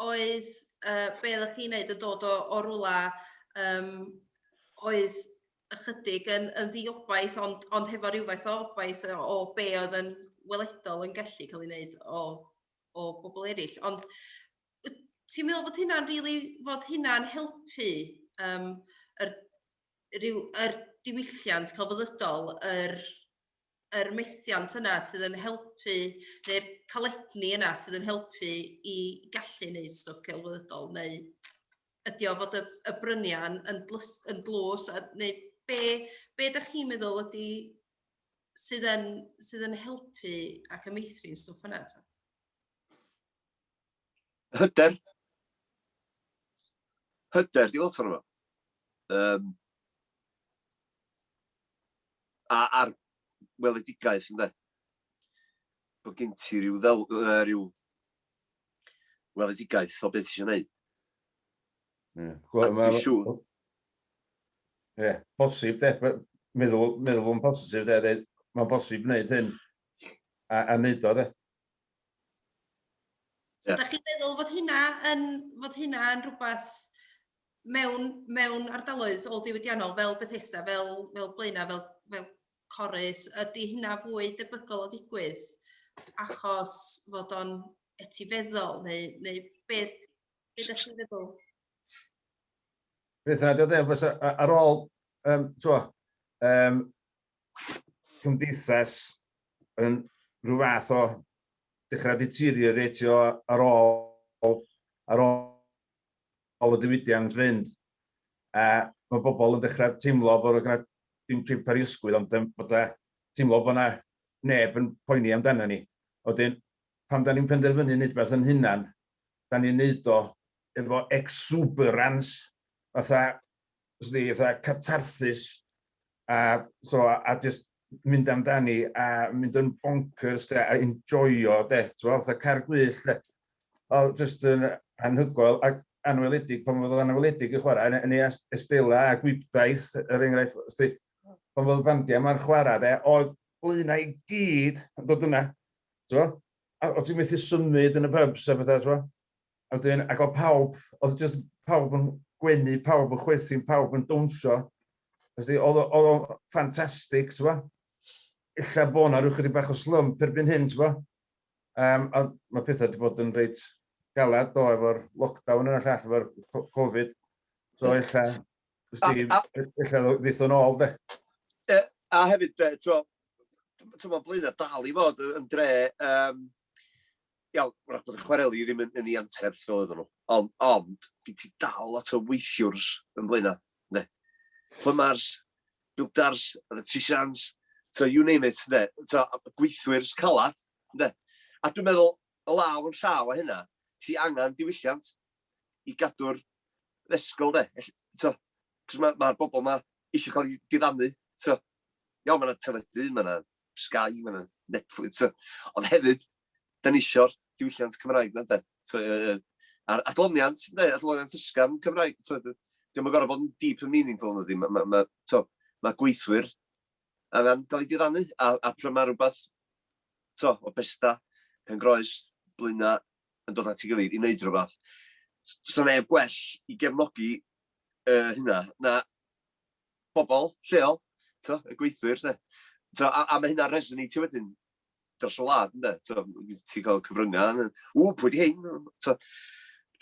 oedd uh, be oeddech chi'n neud yn dod o, o rwla um, oedd ychydig yn, yn ddiobais ond, ond hefo rhywfaint o obais o, o be oedd yn weledol yn gallu cael ei wneud o, o bobl eraill. Ond ti'n meddwl bod hynna'n rili really, fod hynna'n helpu um, yr rhyw, yr diwylliant celfyddydol, yr, yr methiant yna sydd yn helpu, neu'r caledni yna sydd yn helpu i gallu wneud stwff celfyddydol, neu ydy o fod y, y brynian yn, dlys, yn dlws, a, neu be, be da chi'n meddwl ydy sydd yn, sydd yn helpu ac yn meithrin stwff yna? Ta? hyder, hyder, di lot o'n yma. Um, a, a'r weledigaeth, ynddo. Bod gen ti rhyw, ddel, uh, rhyw weledigaeth o beth eisiau gwneud. Ie, yeah. Ie, posib, de. Meddwl, meddwl yn positif, de. Mae'n bosib wneud hyn a, a wneud o, de. So yeah. da chi'n meddwl fod hynna yn, fod hynna yn rhywbeth mewn, mewn ardaloedd ôl diwydiannol fel Bethesda, fel, fel Blaena, fel, fel Corus, ydy hynna fwy debygol o ddigwydd achos fod o'n etifeddol neu, neu be, be da chi'n meddwl? Beth yna, diolch yn fawr, ar ôl, um, twa, um, cymdeithas yn rhyw fath o dechrau deterioratio ar ôl, ar ôl ôl y diwydiant fynd. A mae bobl yn dechrau teimlo bod yna dim trip ar ei ysgwydd, ond um, bod e teimlo bod yna neb yn poeni amdano ni. Oedden, pam da ni'n penderfynu wneud beth yn hunan, da ni'n neud o efo exuberance, fatha Os di fatha catharsis a so a, a just mynd amdani a mynd yn bonkers de, a enjoyo de, t'mo' fatha car gwyllt de. O just yn anhygoel ac anweledig pan fodd anweledig yn chwarae yn, yn ei Estella a Gwibdaith er enghraifft os di pan fodd y bandiau yma'n chwarae de, oedd blaenau i gyd yn dod yna, t'mo'? A o' ti'n methu symud yn y pubs a bethau, t'mo'? A wedyn, ac oedd pawb, oedd jyst pawb yn gwenu, pawb yn chwerthin, pawb yn dawnsio. Felly, oedd o'n ffantastig, ti'n gwybod? Illa bod yna rhyw chydig bach o slwm perbyn hyn, ti'n gwybod? Um, a mae pethau wedi bod yn reit galad do efo'r lockdown yna llall efo'r Covid. So illa, illa ddeithon ôl, de. A hefyd, ti'n gwybod, ti'n gwybod, blynedd dal i fod yn dre um, Iawn, wrach bod y chwareli ddim yn yn 'i anterth fel oedden nhw, ond ond gen ti dal lot o weithiwrs yn Blaenau, ynde? Plymars, builders, electricians, so you name it, ynde? So, gweithwyrs calad, ynde? A dwi'n meddwl, o law yn llaw â hynna, ti angen diwylliant i gadw'r ddesgyl, ynde? Felly, so, cos mae'r ma bobl yma eisiau cael eu diddanu, so, iawn, mae yna teledu, mae yna Sky, ma' 'na Netflix, so... Ond hefyd, 'dan ni isio'r diwylliant Cymraeg 'na ynde? T'mo' yy yy a'r adloniant ynde, adloniant ysgafn Cymraeg, t'mod, yy 'di o'm yn gor'o' bod yn deep and meaningful nadi, ma' ma' ma' t'mo' ma' gweithwyr angan ga'l 'u diddanu, a a pry' ma' rwbath, t'mo', o Bethesda, Pengroes, Blaena' yn dod at 'i gilydd i neud rwbath, s- 'sa neb gwell i gefnogi yy hynna na bobl lleol, t'mo', y gweithwyr 'lly. T'mo', a a ma' hynna'n resoneitio wedyn dros y wlad ynde, t'mo', ti'n cael cyfryngau, yn, ww, pwy 'di hyn? T'mo',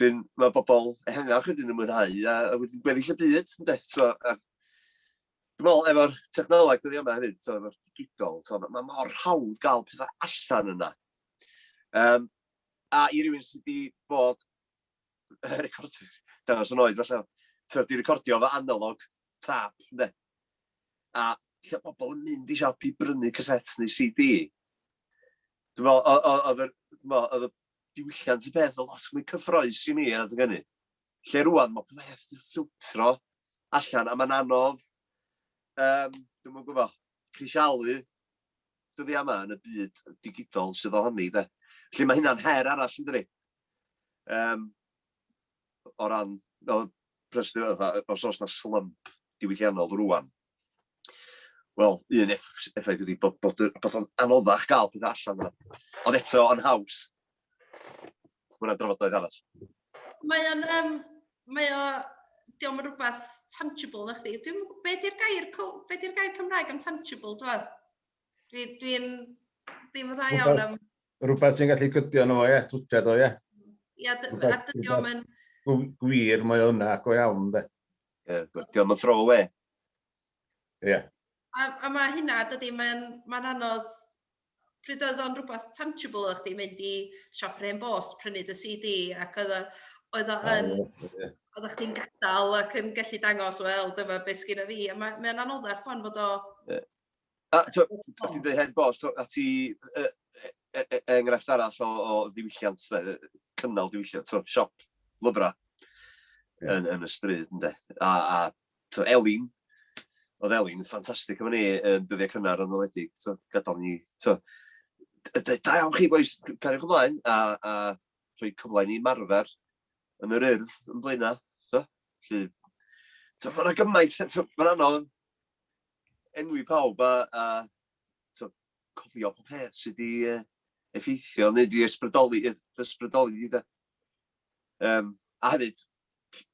wedyn mae bobl ehangach wedyn yn mwynhau a, a wedyn gweddill y byd ynde, t'mo', a dwi'n meddwl efo'r technoleg dyddiau yma hefyd, t'mo', efo'r digidol, t'mo', mae mor hawdd gael pethau allan yna. Um, a i rywun sydd wedi bod recordio, dangos yn oed falle, tywed, di recordio fo analog tap, ne? A lle pobl yn mynd i siop i brynu casets neu CD. Dwi'n meddwl, oedd y diwylliant y peth o lot mwy cyffroes i mi a dwi'n gynnu. Lle rwan, mae peth yn ffiltro allan, a mae'n anodd, um, dwi'n mwyn gwybod, crisialu dyddiau yma yn y byd digidol sydd ohoni, de. Felly mae hynna'n her arall yn dydi. Um, o ran, fel president, os oes yna slump diwylliannol rwan, wel, un effaith ydy bod, bod, bod o'n anoddach gael pethau allan yna. Ond eto, yn haws. Mae yna drafodaeth arall. Mae o'n, um, mae o, diolch yn rhywbeth tangible na chdi. Dwi'n, be di'r gair, be di'r gair Cymraeg am tangible, dwi'n? Dwi, dwi'n, ddim yn dda iawn am... Rhywbeth sy'n gallu cydio yno fo, ie, twtred o, ie. Ie, a dydio yn... Gwir, mae o'n yna, go iawn, de. Ie, dydio yn throw away. Ie. A, a mae hynna, dydy, mae'n ma anodd pryd oedd o'n rhywbeth tangible o'ch di mynd i siop Rhen Bost, prynu dy CD, ac oedd o, oedd o yn, oedd chdi'n gadael ac yn gallu dangos, wel, dyma beth sgyn fi, a mae'n ma anoddach fan fod o... Yeah. A ti'n dweud Hen Bost, a ti uh, enghraifft arall o, o ddiwylliant, cynnal diwylliant, so, siop lyfrau yeah. yn, yn y stryd, ynddo. A, a t'o' Elin, o'dd Elin yn ffantastig efo ni yn dyddie cynnar yn enwedig t'o' gadal ni t'o' d- yy deud da iawn chi bois c- cariwch ymlaen a a rhoi cyfle i ni ymarfer yn yr Urdd yn Blaena' t'o', 'lly t'o' ma' 'na gymaint yy t'o' ma'n anodd enwi pawb a a t'o' cofio pob peth sy 'di yy effeithio neu 'di ysbrydoli yy dy ysbrydoli di 'de? Yym a hefyd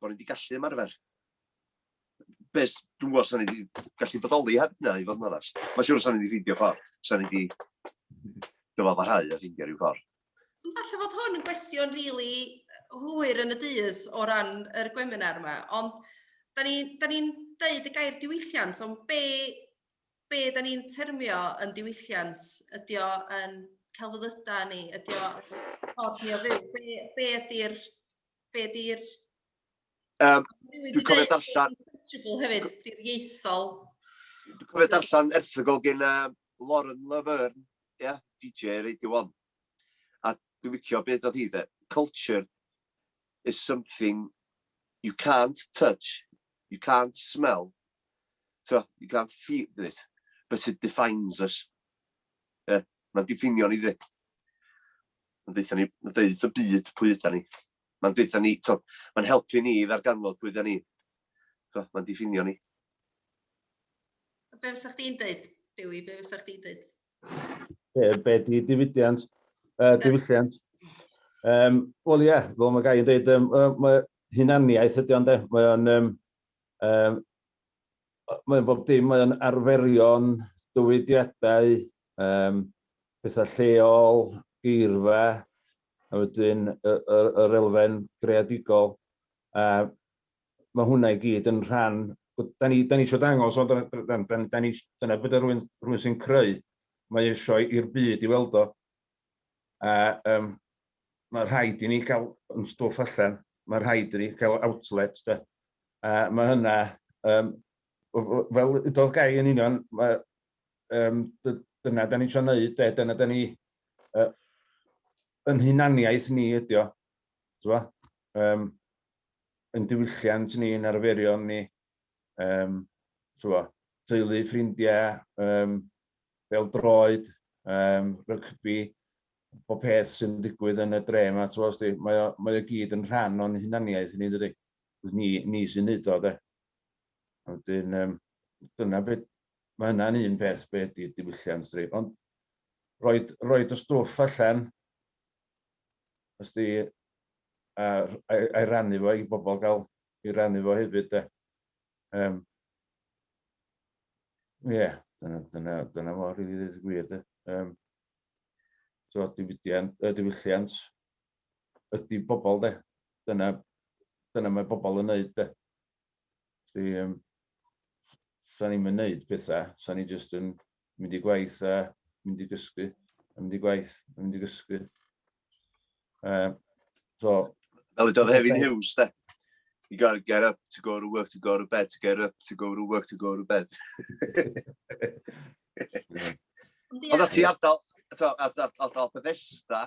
bod ni wedi gallu ymarfer. Bes, dwi'n gwybod sa'n ni wedi gallu bodoli heb na i fod yn oras. Mae'n siŵr sa'n ni wedi ffeindio ffordd, sa'n ni wedi dyfafarhau a ffeindio rhyw ffordd. Falle fod hwn yn gwestiwn rili really hwyr yn y dydd o ran yr gweminar yma, ond da ni'n ni, ni deud y gair diwylliant, ond be, be da ni'n termio yn diwylliant? Ydy o yn celfyddydau ni? Ydy o ffordd ni o fyw? Be, be ydy'r Be di'r... Um, dwi'n cofio darllen... hefyd, di'r ieithol. Dwi'n cofio darllen erthygol gen uh, Lauren Laverne, ie, yeah, DJ Radio 1. A dwi'n wicio beth oedd hi dde. Culture is something you can't touch, you can't smell, so you can't feel it, but it defines us. Yeah, Mae'n diffinio ni dde. Mae'n deutha ni, mae'n deud wrth y byd pwy ydan ni. Mae'n deutha ni, to, mae'n helpu ni i ddarganfod pwy ydan ni. To, mae'n diffinio ni. A be fysa chdi'n deud, Dewi? Be fysa chdi'n deud? Be, be di diwydiant? Uh, diwylliant? Um, Wel ie, yeah, fel mae gai yn dweud, um, mae hunaniaeth ydy ond e. Mae o'n um, um, mae'n bob dim, mae'n arferion, dywydiadau, Yym, pethau lleol, geirfa, a wedyn y, y, yr elfen greadigol. A mae hwnna i gyd yn rhan... Da ni, da ni eisiau dangos, ond da, da, da, da ni, dyna beth rhywun, rhywun sy'n creu, mae eisiau i'r byd i weld o. A um, mae rhaid i ni gael yn stwff allan, mae rhaid i ni gael outlet. Da. A mae hynna, um, fel ydodd gai yn union, mae um, dyna da ni'n trio wneud, de, dyna da ni, uh, yn hunaniaeth ni ydio, o, um, yn diwylliant ni, yn arferion ni, um, o, teulu, ffrindiau, um, fel droed, um, rygbi, bob peth sy'n digwydd yn y dre yma, mae, o, mae o gyd yn rhan o'n hunaniaeth ni, dydy. Ni, ni sy'n neud o, de. Wedyn, um, dyna beth ma' hynna'n un peth be' ydi diwylliant di ond roid roid y stwff allan os di a r- ai- ai rannu fo i bobl ga'l i rannu fo hefyd de. Yym. Ie dyna dyna dyna fo rili ddeud y gwir de. Yym. So diwydiant yy diwylliant ydi bobl de. Dyna dyna mae bobl yn neud de. Felly yym, sa'n i'm yn neud petha, sa'n i jyst yn mynd i gwaith a mynd i gysgu, a mynd i gwaith a mynd i gysgu. Uh, so, Fel ydodd Hefin Hughes, de. You gotta get up to go to work, to go to bed, to get up, to go to work, to go to bed. Ond ti ardal, ardal Bethesda,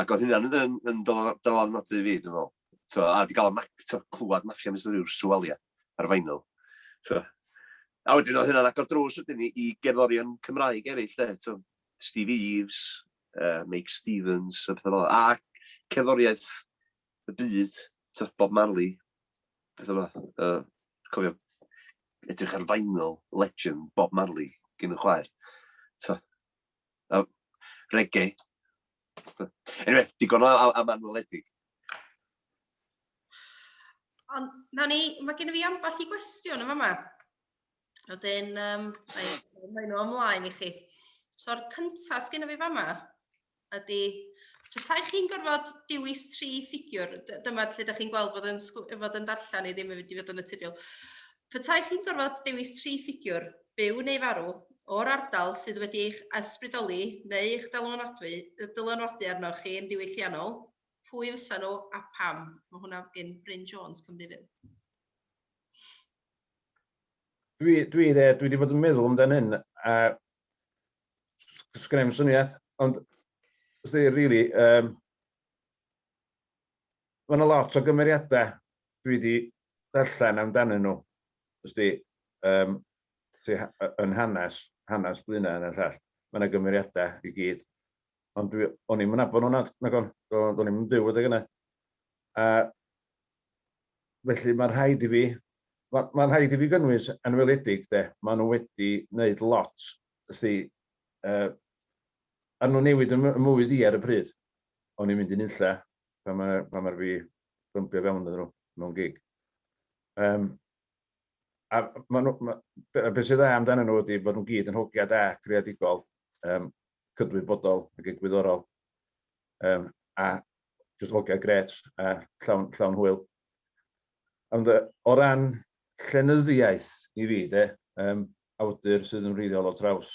Ac oedd hynna'n yn, yn, yn dylanwadu i fi, dwi'n meddwl. So, a wedi cael y clywed maffia mis yw'r swalia ar fainol. So, a wedyn oedd hynna'n agor drws wedyn i, i gerddorion Cymraeg eraill, de. So, Steve Eves, uh, Mike Stevens, a pethau fel A cerddoriaeth y byd, so, Bob Marley, pethau fel uh, cofio, edrych ar fainol legend Bob Marley gyn y chwaer. So, Uh, reggae. Anyway, digon o am, am anweledig. Ond, na ni, mae gen i fi ambell i gwestiwn yma yma. Oedden, um, mae nhw ymlaen i chi. So'r cyntaf sgyn i fi fama ydy, petai chi'n gorfod dewis tri ffigiwr, dyma lle ydych chi'n gweld bod yn, fod yn darllen i ddim yn mynd i fod yn naturiol, Petaech chi'n gorfod dewis tri ffigiwr, byw neu farw, o'r ardal sydd wedi eich ysbrydoli neu eich dylanwadu dylanwadu arnoch chi yn ddiwylliannol, pwy fysa nhw a pam? Mae hwnna gin Bryn Jones, Cymru Fyw. Dwi, dwi, dwi wedi bod yn meddwl amdan hyn, a sgynna i'm syniad, ond os dwi rili, um, Mae 'na lot o gymeriadau dwi 'di darllen amdanyn nhw, wst ti, yym, sy yn hanes, hanes Blaenau hynny a'r llall. Mae 'na gymeriadau i gyd. Ond dwi, o'n i'm yn nabod nhw nad, nagon, o'n i'm yn byw adeg yna. A felly mae'n rhaid i fi, mae'n ma rhaid i fi gynnwys yn weledig de, maen nhw wedi wneud lot, wst ti, uh, a nhw'n newid yn mywyd i ar y pryd. o'n i'n mynd i nunlle pan mae, pan mae'r fi bympio fewn iddyn nhw mewn gig. Um, a ma nhw, ma, be, be sydd dda amdanyn nhw ydy bod nhw'n gyd yn hogia da, creadigol, um, cydwybodol ac egwyddorol. Um, a jyst hogia gret a llawn, llawn hwyl. Ond uh, o ran llenyddiaeth i fi, de, um, awdur sydd yn wreiddiol o traws,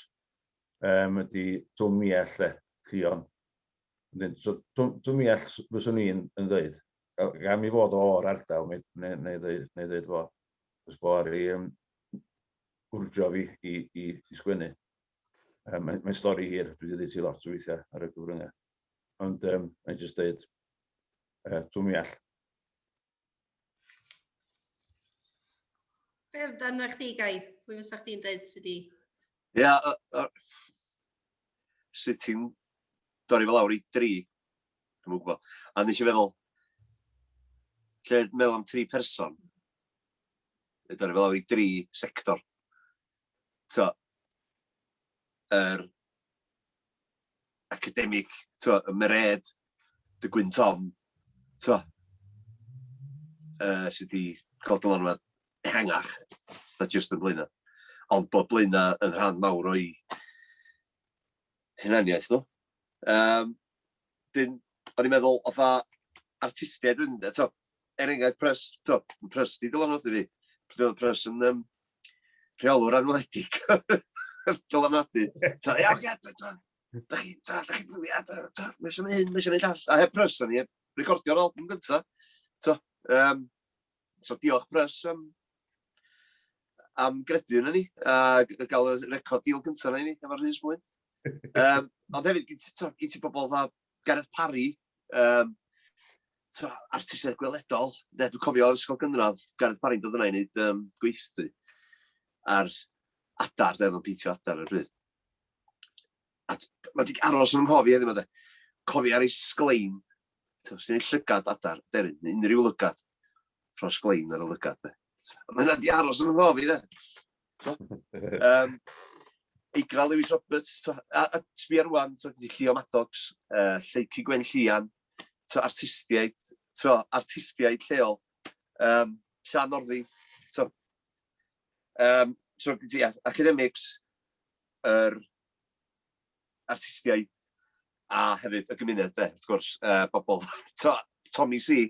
um, ydy Twm Miell, lle, Llion. So, Twm Miell, fyswn i'n yn ddweud, gan mi fod o'r ardal, neu, neu, neu, ddweud, neu ddweud fo, os bo ar ei um, wrdio fi i, i, i sgwennu. Um, Mae'n mae stori hir, dwi wedi dweud ti lot o weithiau ar y gyfryngau. Ond um, mae'n jyst dweud, uh, Twm Miell, Be amdano chdi, Gai? Pwy fysa chdi'n dweud sydd wedi... Ia, sut ti'n dorri fel awr i dri? Dwi'n mwyn gwybod. A nes i feddwl, lle meddwl am tri person, y dorri fel awr i dri sector. t'o', yr academig, t'o', y Mairead, dy Gwyn Tom, t'o', yy sy 'di ca'l dylanwad ehangach na jyst yn Blaena', ond bod Blaena' yn rhan mawr o'u hunaniaeth nhw. Yym, 'dyn o'n i'n meddwl fatha artistiaid wedyn 'de, t'o', er enghraifft, pres, to, pres di dylanwadu fi. Pryd oedd pres yn um, rheolwr anweledig. dylanwadu. Ta, ia, oce, ta, ta. Da chi, ta, da chi bwlio, ta, ta, mae eisiau hyn, mae eisiau neud all. A heb pres o'n i, heb recordio'r album gynta. To, um, so diolch pres am, am gredu yna ni, a gael y record deal gynta yna ni, efo'r Rhys Mwyn. Um, ond hefyd, gyd ti bobl dda Gareth Parry, um, artistiaid gweledol, ne, dwi'n cofio o'r ysgol gynradd, Gareth Parry'n dod yna i wneud um, gweithdy ar adar, dweud o'n peintio adar ar bryd. A mae di aros yn nghof i edrych yma, cofi ar ei sglein, ti'n ei llygad adar, derin, unrhyw lygad, rho'r sglein ar y lygad. De. Mae hynna di aros yn ymhof i, dde. Um, Eigra Lewis Roberts, to, a, a sbia rwan, to, di Llio Maddox, uh, Lleicu Gwen Llian, to, artistiaid, to, artistiaid lleol, um, Sian Orddi, to, um, to, di, yeah, academics, yr er, artistiaid, a hefyd y gymuned, de, wrth gwrs, uh, bobl, to, Tommy C,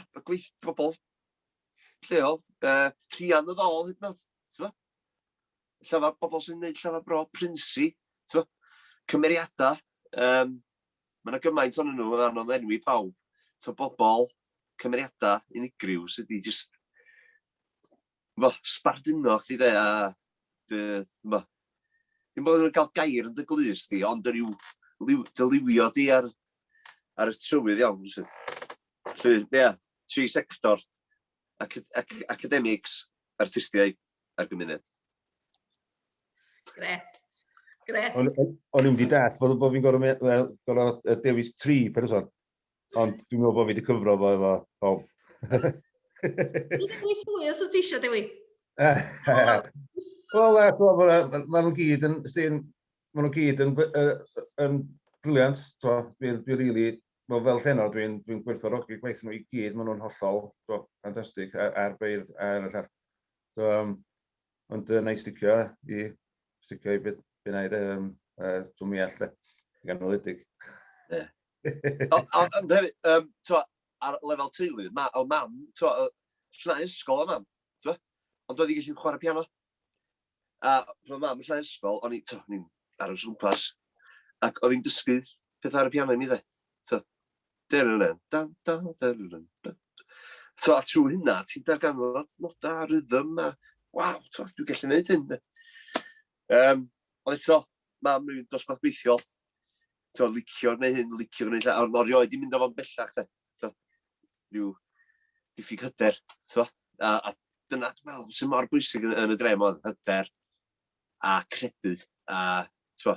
y gweith pobl lleol, uh, rhian o ddol hyd yn oed, ti'n fo? Llafar, bobl sy'n gwneud llafar bro, prinsi, ti'n fo? Cymeriadau, um, mae yna gymaint o'n nhw, mae'n anodd enwi pawb, ti'n bobl, cymeriadau unigryw sydd wedi jyst ch'mo', sbarduno chdi 'de, a dy ch'mo', dim bo' nhw'n cael gair yn dy glust di, ond y rhyw liw, dy liwio di ar, ar y trywydd iawn, felly. Felly, ia, tri sector, ac, ac, academics, artistiaid a'r gymuned. Gret. Gret. O'n i'n wedi dall bod, bod fi'n gorfod, well, gorfod dewis tri person. Ond dwi'n meddwl bod fi wedi cyfro fo efo pawb. Dwi'n gwneud hwy os wyt ti eisiau, Dewi. Wel, e, maen nhw'n gyd yn, ysdyn, maen nhw'n gyd yn, yn briliant, to, dwi'n dwi rili, wel, fel llenor, dwi'n dwi gwerthfawrogi gwaith nhw i gyd, maen nhw'n hollol, to, ffantastig, a'r beirdd, a'r llall. So, um, Ond uh, na i sticio i sticio i beth beth na'i dweud, um, uh, dwi'n mi all ganoledig. Ie. Ond hefyd, um, twa, ar lefel teulu, ma, o mam, twa, llna ysgol o mam, twa, ond doedd i gallu chwarae piano. A pan o mam yn llna ysgol, o'n i'n aros o gwmpas, ac oedd hi'n dysgu pethau ar y piano i mi dde. So, a trwy hynna, ti'n darganfod nodau a rhythm a, waw, dwi'n gallu gwneud hyn. Um, ond eto, mam yn dosbarth beithiol, so, licio neu hyn, licio neu lle, ond o'r ioed i mynd o'n bellach, de. So, rhyw diffyg hyder, so, a, a dyna, dwi'n meddwl, sy'n mor bwysig yn, yn y drem o'n hyder a credu, a, so,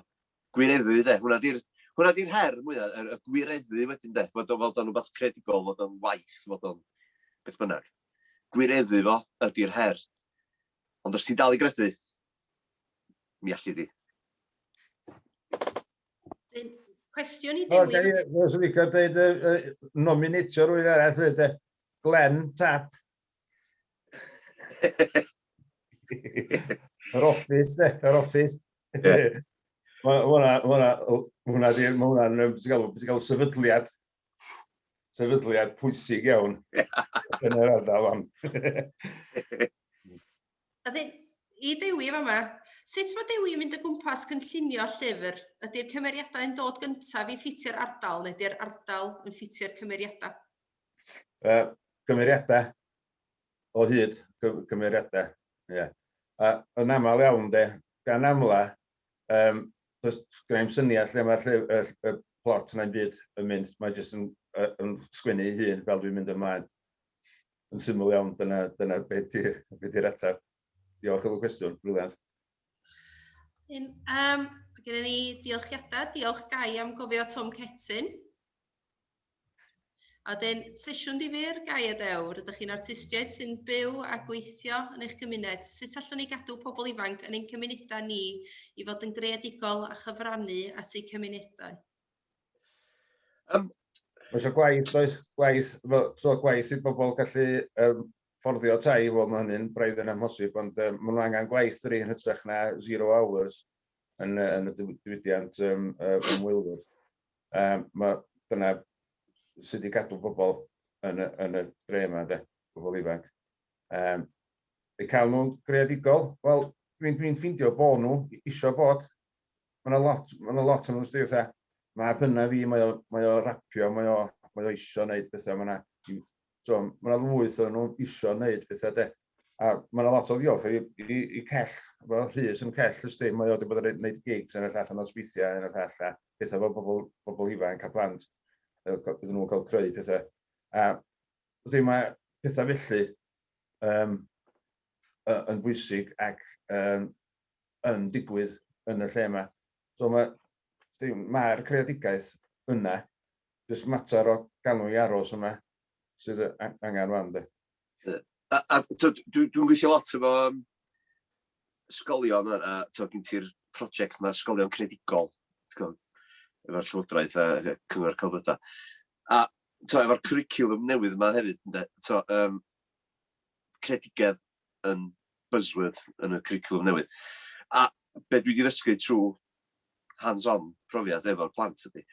Gwireddu, de. Hwnna di'r hwnna di'r her mwya, y y gwireddu wedyn, de. Fod o fod o'n wbath creadigol, fod o'n waith, fod o'n beth bynnag. Gwireddu fo ydi'r her. Ond os ti'n dal i gredu, mi alli di. Wedyn, Cwestiwn i O, Dewi. gael ei, os yn licio dweud, nominatio rwy'n arall, dweud, Glenn Tapp, Yr office, ne? Yr office. Yeah. Mae hwnna, beth ti'n gael, sefydliad, sefydliad pwysig iawn yn yr ardal am. A dyn, i Dewi fa yma, sut mae Dewi yn mynd o gwmpas gynllunio llyfr? Ydy'r cymeriadau yn dod gyntaf i ffitio'r ardal neu ydy'r ardal yn ffitio'r cymeriadau? Uh, gymeriadau o hyd, gymeriadau. Yeah. A yn aml iawn, de, gan amla, um, does gen i'n syniad lle mae'r lle, y, y plot yna'n byd yn mynd, mae jyst yn, yn sgwennu ei hun fel dwi'n mynd ymlaen. Yn syml iawn, dyna, dyna beth di'r be di ateb. Diolch am y cwestiwn, briliant. Yn, um, gen i ni diolchiadau, diolch Gai am gofio Tom Cetyn. A wedyn, sesiwn difyr, gai a dewr, ydych chi'n artistiaid sy'n byw a gweithio yn eich gymuned, sut allwn ni gadw pobl ifanc yn ein cymunedau ni i fod yn greadigol a chyfrannu at eu cymunedau? Um, Oes o gwaith, oes gwaith, so gwaith i bobl gallu um, fforddio tai, fo mae hynny'n braidd yn amhosib, ond um, maen nhw angen gwaith yr un hytrach na zero hours yn, yn y diwydiant um, ymwylwyr. Yym ma' dyna sy 'di gadw bobl yn y yn y dre 'ma ynde, pobl ifanc. Yym eu cael nhw'n greadigol, wel dwi'n dwi'n ffeindio bo' nhw isio bod. Ma' 'na lot ma' 'na lot o nhw sdi fatha mab hyna fi mae o mae o rapio mae o mae o isio neud petha ma' 'na so ma' 'na lwyth o nhw isio neud petha 'de. A ma' 'na lot o ddiolch i i i Cell, efo Rhys yn Cell ysdi, mae o wedi bod yn neud gigs enghraifft allan o sbithia enghraifft all a petha efo pobl pobl ifanc a plant yy iddyn nhw cael creu petha. A wrthi mae petha felly um, yn bwysig ac um, yn digwydd yn y lle yma. So mae mae'r creadigaeth yna jyst mater o galw i aros yna sydd angen rwan de. A tibod dwi'n gweithio lot efo ysgolion a tibod gen ti'r prosiect yma ysgolion credigol efo'r Llywodraeth a Cyngor Celfyddydau. A tibod efo'r cwricwlwm newydd yma hefyd ynde, tibod yym credigedd yn buzzword yn y cwricwlwm newydd. A be dwi wedi ddysgu trwy hands-on profiad efo'r plant ydy,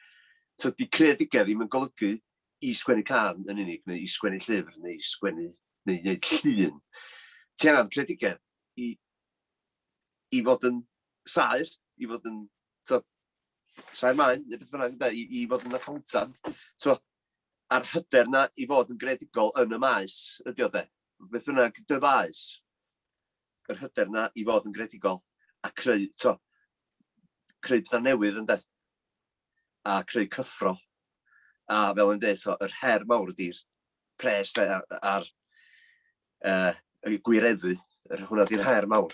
tydi credigedd ddim yn golygu i sgwennu can yn unig, neu i sgwennu llyfr, neu i sgwennu, neu i wneud llun. Ti angen credigedd i, i fod yn saer, i fod yn saer maen, neu beth bynnag, i, i fod yn accountant. So, a'r hyder 'na i fod yn greadigol yn y maes ydy o 'de? Beth bynnag dy faes, yr hyder 'na i fod yn greadigol a creu, t'o', creu petha newydd ynde? A creu cyffro. A fel o'n i'n deud, t'o', yr her mawr ydi'r pres 'de a- a'r yy y gwireddu, yr hwnna 'di'r her mawr.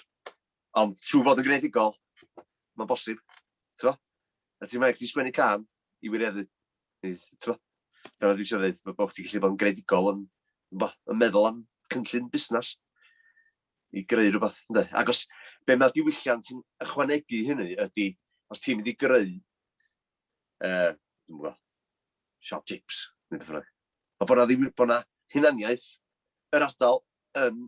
Ond trwy fod yn greadigol, mae'n bosib, ti'n A ti'n rhaid chdi sgwennu can i wireddu. Neu, ti'n Dyna dwi'n siarad dweud, bod chdi'n gallu bod yn greadigol yn, yn meddwl am cynllun busnes i greu rhywbeth, ynddo. Ac os be mae diwylliant yn ychwanegu hynny ydy, os ti'n mynd i greu, uh, dwi'n gwybod, siop chips, neu beth bynnag. Mae bod na, ddim, bod na hunaniaeth yr ardal yn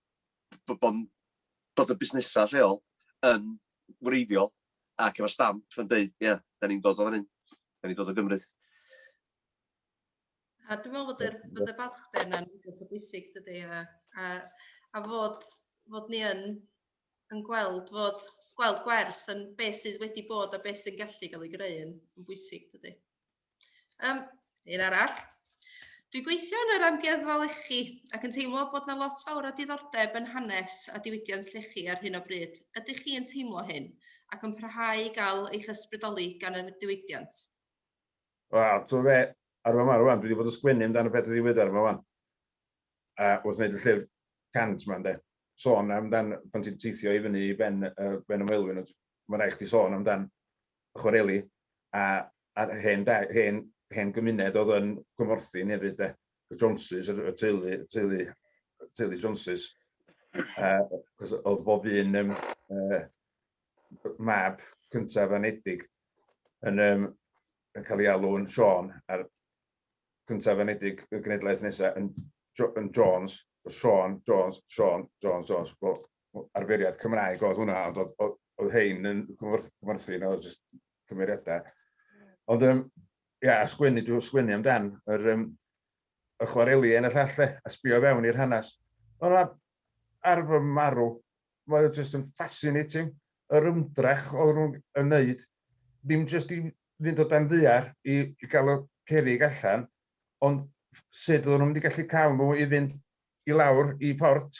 b- bod yn, bod y busnesau lleol yn wreiddiol ac efo stamp yn dweud, ie, yeah, da ni'n dod o fan hyn, da ni'n dod o Gymru. A dwi'n meddwl bod yr, bod y balchder yna'n rhywbeth o bwysig, dydy, a, a, a fod, fod ni yn, yn gweld, fod gweld gwers yn beth sydd wedi bod a beth sy'n gallu cael ei greu yn, yn bwysig, dydy. Um, un arall. Dwi gweithio yn yr amgueddfa lechi ac yn teimlo bod na lot fawr o diddordeb yn hanes a diwydiant llechi ar hyn o bryd. Ydych chi yn teimlo hyn ac yn parhau i gael eich ysbrydoli gan y diwydiant? Wel, ti'n fe, ar yma rwan, dwi wedi bod yn sgwennu amdano beth ydi wydder yma rwan. A wrth wneud y llyfr cant yma, ynddo. Sôn amdan, pan ti'n teithio i fyny i ben, uh, ben y Maelwyn, mae'n rhaid chdi sôn amdan chwareli a a'r hen da- hen hen gymuned oedd yn Gwmorthin hefyd de. Y Joneses, y teulu, teulu, teulu Joneses. Uh, oedd bob un um, uh, mab cyntaf anedig yn, um, yn cael ei alw'n Sean, a'r cyntaf anedig y genedlaeth nesaf yn, yn Jones, Sean, Jones, Sean, Jones, Jones, bob, arferiad Cymraeg oedd hwnna, ond oedd, oedd, oedd hein yn cymorthu, na oedd jyst cymeriadau. Ond, um, ia, a sgwennu, dwi'n sgwennu amdan, yr, um, y chwareli yn y llall, le, a sbio fewn i'r hanes. Ond mae ar fy marw, mae oedd jyst yn fascinating, yr ymdrech oedd nhw'n yn neud, ddim jyst i fynd o dan ddiar i, i gael y cerig allan, ond sut oedden nhw'n mynd i gallu cael nhw i fynd i lawr i port,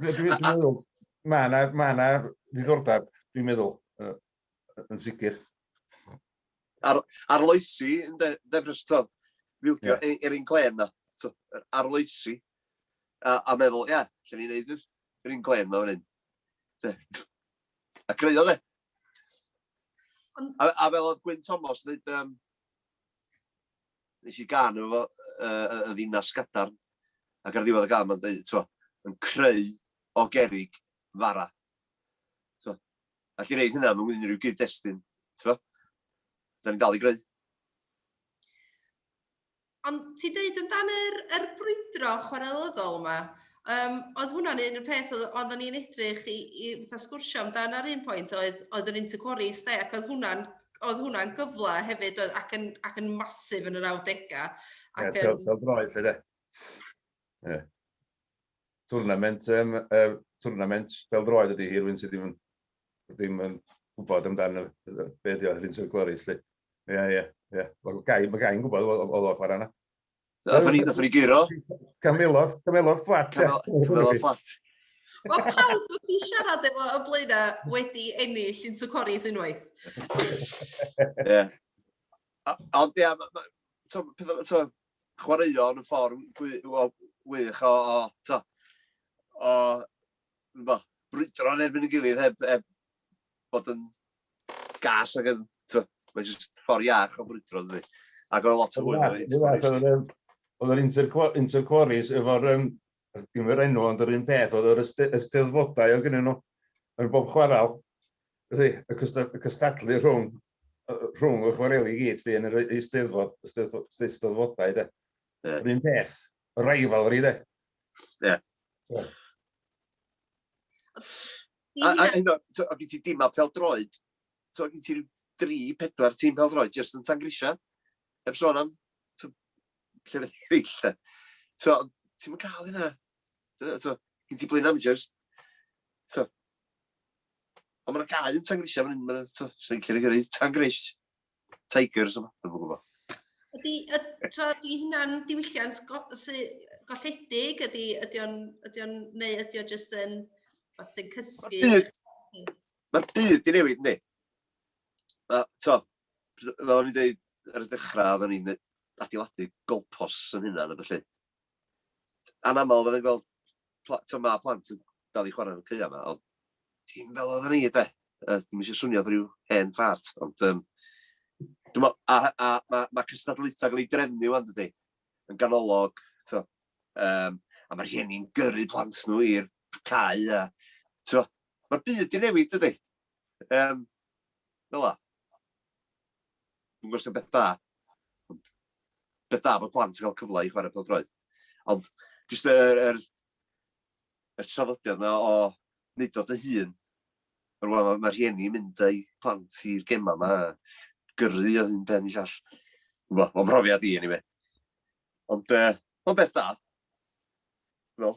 Dwi'n meddwl, mae yna ma ddiddordeb, dwi'n meddwl, yn sicr. Ar, arloesi, yn de, defnyddio tod, fildio yeah. er, er un glen na, so, arloesi, a, a meddwl, ia, yeah, lle ni'n neud yr un glen na fan hyn. A creu o, de. A, a fel oedd Gwyn Thomas yn neud, um, nes i gân efo fo, yy, y ddinas gadarn, ac ar ddiwedd y gân mae'n dweud, twa, yn creu o gerig fara. Twa, all i reid hynna mewn unrhyw gyd-destun, twa, da ni'n dal i greu. Ond ti dweud amdano'r er brwydro chwarelyddol yma, Um, oedd hwnna'n un o'r peth oedd, oedden ni'n edrych i, i fatha sgwrsio amdan ar un pwynt oedd, oedd yr interquarries de, ac oedd hwnna'n oedd hwnna'n gyfle hefyd oedd, ac, yn, ac yn masif yn yr 90au. Ac, yeah, um... Fel droed, lle de. Yeah. Tournament, um, uh, tournament fel droed ydy hi, rwy'n sydd ddim yn, ddim yn gwybod amdano be ydy oedd yr interquarries, lle. Ie, ie, ie. Mae gai'n gwybod oedd o'n chwarae yna. Nathon ni, nathon ni guro. Camelot, camelot fflat. Camelot fflat. Mae pawb wedi siarad efo y blaena wedi ennill yn Tucoris unwaith. Ie. Ond ia, chwaraeon yn ffordd wych o, o, to, o, brwydro yn erbyn y gilydd heb, heb bod yn gas ac yn, mae'n just ffordd iach o brwydro, dydy. Ac oedd lot o hwyl ar hyn. Oedd yr interquarries efo'r, um, dim yr enw, ond yr un peth, oedd yr ysteddfodau o gynnyn nhw yn bob chwarael. Felly, y cystadlu rhwng, rhwng y chwareli gyd, yn yr ysteddfod, ysteddfodau, de. Yeah. Yr un peth, rivalry, de. Yeah. So. A, a hyn o, o gen ti dima peldroed, so gen ti dri, pedwar tîm peldroed, jyst yn tan grisia, heb sôn am so, llefydd eraill, da. So, ti'n mynd cael hynna. So, gen ti blwyddyn amateurs. So, ond mae'n cael yn tan grisia fan hyn, mae'n so, sy'n cael ei tan gris. Tigers o fath, dwi'n gwybod. Ydy, ydy hynna'n diwylliant golledig? Ydy, ydy o'n, ydy o'n, neu ydy o'n just yn, fath sy'n cysgu? Mae'r byd i newid, ni. To, fel o'n i'n dweud ar y dechrau, oeddwn i'n adeiladu golpos yn hynna, na felly. Anaml oedden ni'n gweld, ti'n ma plant yn dal i chwarae yn y caeau yma, ond dim fel oedden ni, de. Dwi'n eisiau swnio rhyw hen ffart, ond um, dwi'n meddwl, a, a mae ma cystadlaethau gael ei drefnu wan, dydy, yn ganolog, ti'n um, a mae rhieni'n gyrru plant nhw i'r cae, a, ti'n mae'r byd di newid, dydy. Um, fel la. Dwi'n gwybod sy'n beth da, ond beth da bod plant yn cael cyfle i chwarae pêl-droed. Ond jyst yr, yr, yr trafodiad yna o wneud o dy hun, yr wan mae rhieni yn mynd â'i plant i'r gemau yma, gyrru o hyn ben i llall. Wel, o'n profiad i, anyway. Ond, uh, o'n beth da. Wel,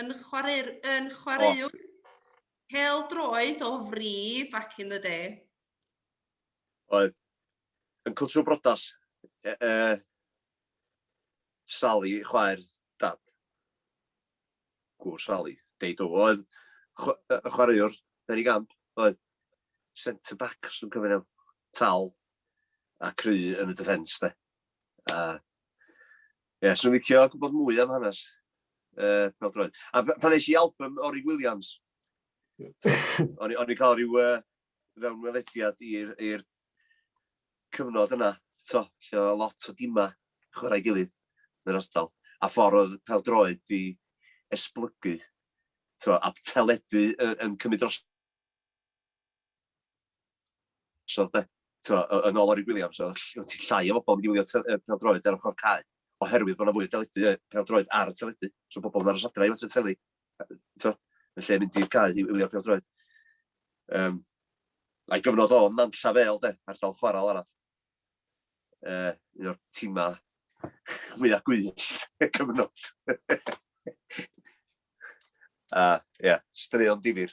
yn chwaraewr, yn chwaraewr hel droed o fri back in the day. Oedd. Yn cwtio brodas. E, e, Sally, chwaer, dad. Gwr Sally, deud o. Oedd y chwaraewr, Derry Gamp, oedd centre back, os dwi'n cyfyn am, tal a cry yn y defence, de. A Ie, yeah, swn licio gwybod mwy am hanes uh, peldroed. A pan eisiau i album Ori Williams, o'n i'n cael rhyw uh, fewn welediad i'r cyfnod yna, to, lle oedd lot o dima chwarae gilydd yn yr ardal, a ffordd oedd peldroed di esblygu, to, a teledu yn, yn cymryd dros So, de, twa, yn ôl Orig Williams, oedd ti'n llai o bobl yn mynd i wylio te- yy pêl-droed ar ochr cae, oherwydd bod yna fwy o deledu, yy, pêl-droed ar y teledu. So pobl yn aros adra i watsio teli, twa, yn lle mynd i'r cae i wylio pêl-droed. Um, a'i gyfnod o'n nanlla fel, de, ardal chwarael arall. uh, un o'r timau mwyaf gwyll y cyfnod. A, uh, ie, yeah, straeon difyr.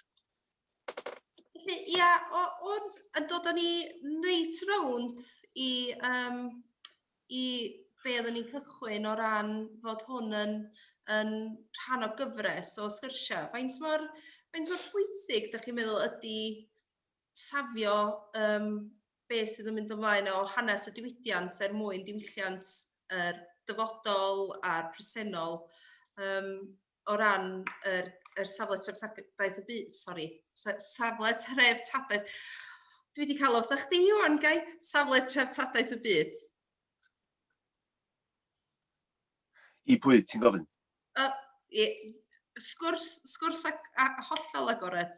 Felly, ia, yeah, o'n yn dod â ni reit rownd i, um, i be oedden ni'n cychwyn o ran fod hwn yn, yn rhan o gyfres o sgyrsiau. Faint mor, faint mor pwysig, da chi'n meddwl, ydy safio um, beth sydd yn mynd ymlaen o hanes y diwydiant er mwyn diwylliant yr dyfodol a'r presennol um, o ran yr, yr safle treftadaeth y byd, sori, safle treftadaeth. Dwi wedi cael os a'ch di, Iwan, gai? Safle treftadaeth y byd. I pwy ti'n gofyn? Uh, i, sgwrs, sgwrs ac, a, hollol agored.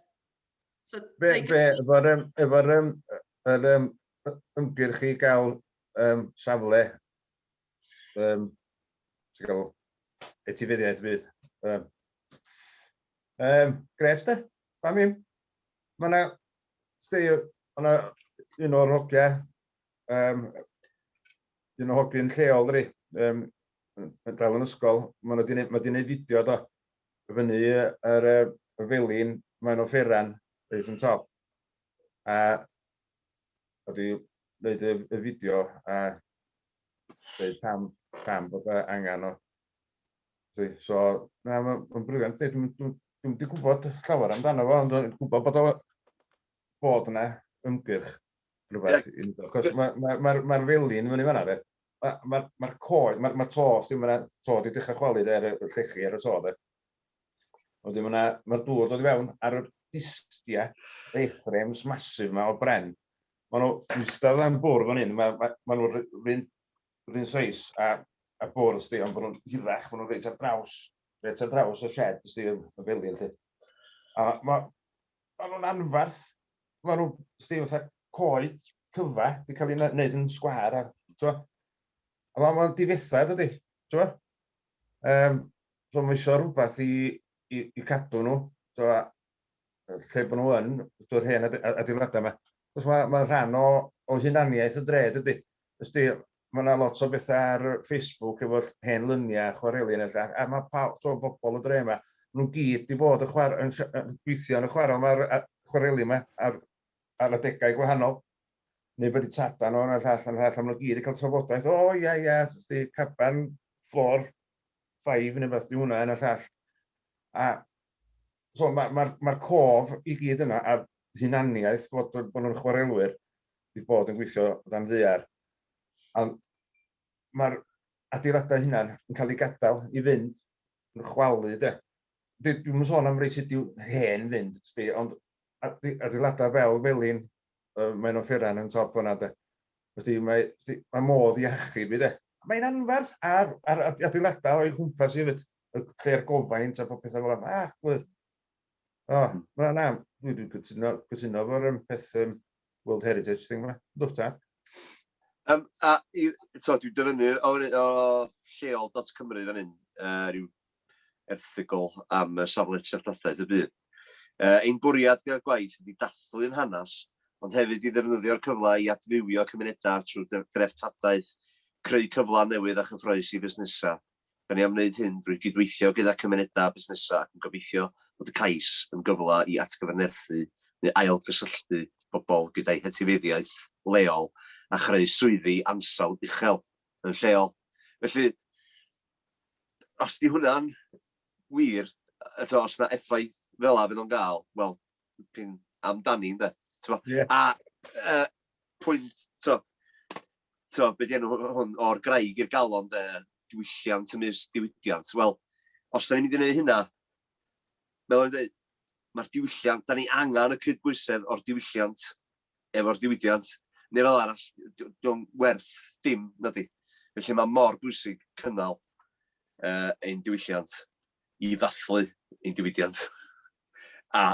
So, be, be, efo'r um, efo um, er, um, ymgyrch i gael um, safle um, sy'n gael etifeddiaeth fydd. Um, um, gret da, pam im. Mae yna, stei, yna un o'r hogia, um, un o'r hogyn lleol dri, um, yn dal yn ysgol, mae wedi gwneud fideo do, fyny yr y felin mae'n offeran reit yn top a oedd i wneud y, y fideo a dweud pam, pam bod e angen o. So, na, mae'n briliant. Dwi'n dwi, dwi wedi gwybod llawer amdano fo, ond dwi'n gwybod bod o bod yna ymgyrch rhywbeth yeah. i wneud. Cos mae'r ma, ma, ma, ma felin fyny fanna, de. Mae'r ma, ma coed, mae'r ma to, sy'n yna, to wedi dechrau chwalu de, ar y llechi, ar y to de. Wedyn mae'r ma, ma dŵr dod i fewn ar y distiau, A-frames masif yma o bren. Mae nhw eistedd am bwrdd fan hyn, mae, ma, ma nhw'r rhywun rhywun seis a, a bwrdd sti, ond bod nhw'n hirach, bod nhw'n reit ar draws, reit ar draws y shed sti yn felin lle. A mae Maen nhw'n anferth. Maen nhw, sti, fatha coed cyfa, di cael ei wneud yn sgwar. A, twa, a maen nhw'n difethau, dydy. Twa? Um, so mae eisiau rhywbeth i, i, i cadw nhw. Twa, lle bod nhw yn, twa'r hen adeiladau yma. Os mae, mae rhan o, o hunaniaeth y dre, dydy. Ysti, mae yna lot o bethau ar Facebook efo hen luniau a chwareli yna 'lly, a mae pawb, t'mo' bobl y dre 'ma, ma' nhw gyd 'di bod yn chwar- yn sh- yn gweithio yn y chwarel 'ma ar y chwareli 'ma ar ar adegau gwahanol, neu bod 'di tada nhw, hwnna llall, hwnna llall, a ma' nhw gyd yn cael trafodaeth, o ia ia, ysti, caban, fflor, ffaif neu beth 'di hwnna, hwnna llall. A So mae'r ma, ma, ma cof i gyd yna a'r hunaniaeth bod, bod nhw'n chwarelwyr wedi bod yn gweithio dan ddear. A mae'r adeiladau hunan yn cael ei gadael i fynd yn chwalu de. Dwi'n mynd sôn am rei sydd wedi hen fynd, sti, ond adeiladau fel felin, uh, mae'n offeran yn top fyna de. Sti, mae, sti, mae modd i achub i de. Mae'n anferth ar, ar adeiladau o'i chwmpas i hefyd. y lle'r gofaint a bod pethau fel yna. Ah, gwyd. O, oh, na, na, dwi wedi cytuno, cytuno fo'r um, peth um, World Heritage thing yma. Dwi'n tad. Um, a i, to, dwi'n dyfynnu o, o lleol.cymru fan hyn, uh, rhyw erthigol am uh, safle treftadaeth y byd. Uh, ein bwriad gyda'r gwaith ydy dathlu'n hanes, ond hefyd i ddefnyddio'r cyfle i adfywio cymunedau trwy dreftadaeth, creu cyfle newydd a chyffroes i fusnesau Da ni am wneud hyn drwy gydweithio gyda cymunedau a busnesau ac yn gobeithio bod y cais yn gyfle i atgyfnerthu neu ailgysylltu pobl gyda'u hetifeddiaeth leol a chreu swyddi ansawdd uchel yn lleol. Felly, os ydy hwnna'n wir, eto, os yna effaith fel yna fydd o'n gael, wel, dipyn amdani, ynde? T'bo? Ie. A yy pwynt, to, to, beth yw enw hwn, o'r graig i'r galon, de, diwylliant yn ymysg diwydiant. Wel, os da ni'n mynd i wneud hynna, fel o'n dweud, mae'r diwylliant, da ni angen y cydbwysedd o'r diwylliant efo'r diwydiant, neu fel arall, dwi'n werth dim na di. Felly mae mor bwysig cynnal uh, ein diwylliant i ddathlu ein diwydiant. A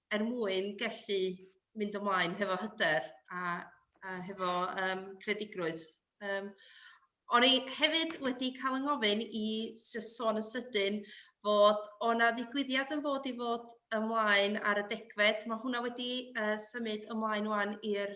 er mwyn gallu mynd ymlaen hefo hyder a, a hefo um, credigrwydd. Um, O'n i hefyd wedi cael yng ngofyn i sôn y sydyn fod o'na ddigwyddiad yn fod i fod ymlaen ar y degfed. Mae hwnna wedi uh, symud ymlaen wan i'r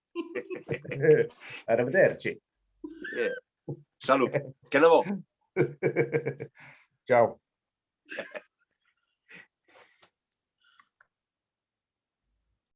Ar y fydder, ti. Ie. Salw, cena fo. Ciao.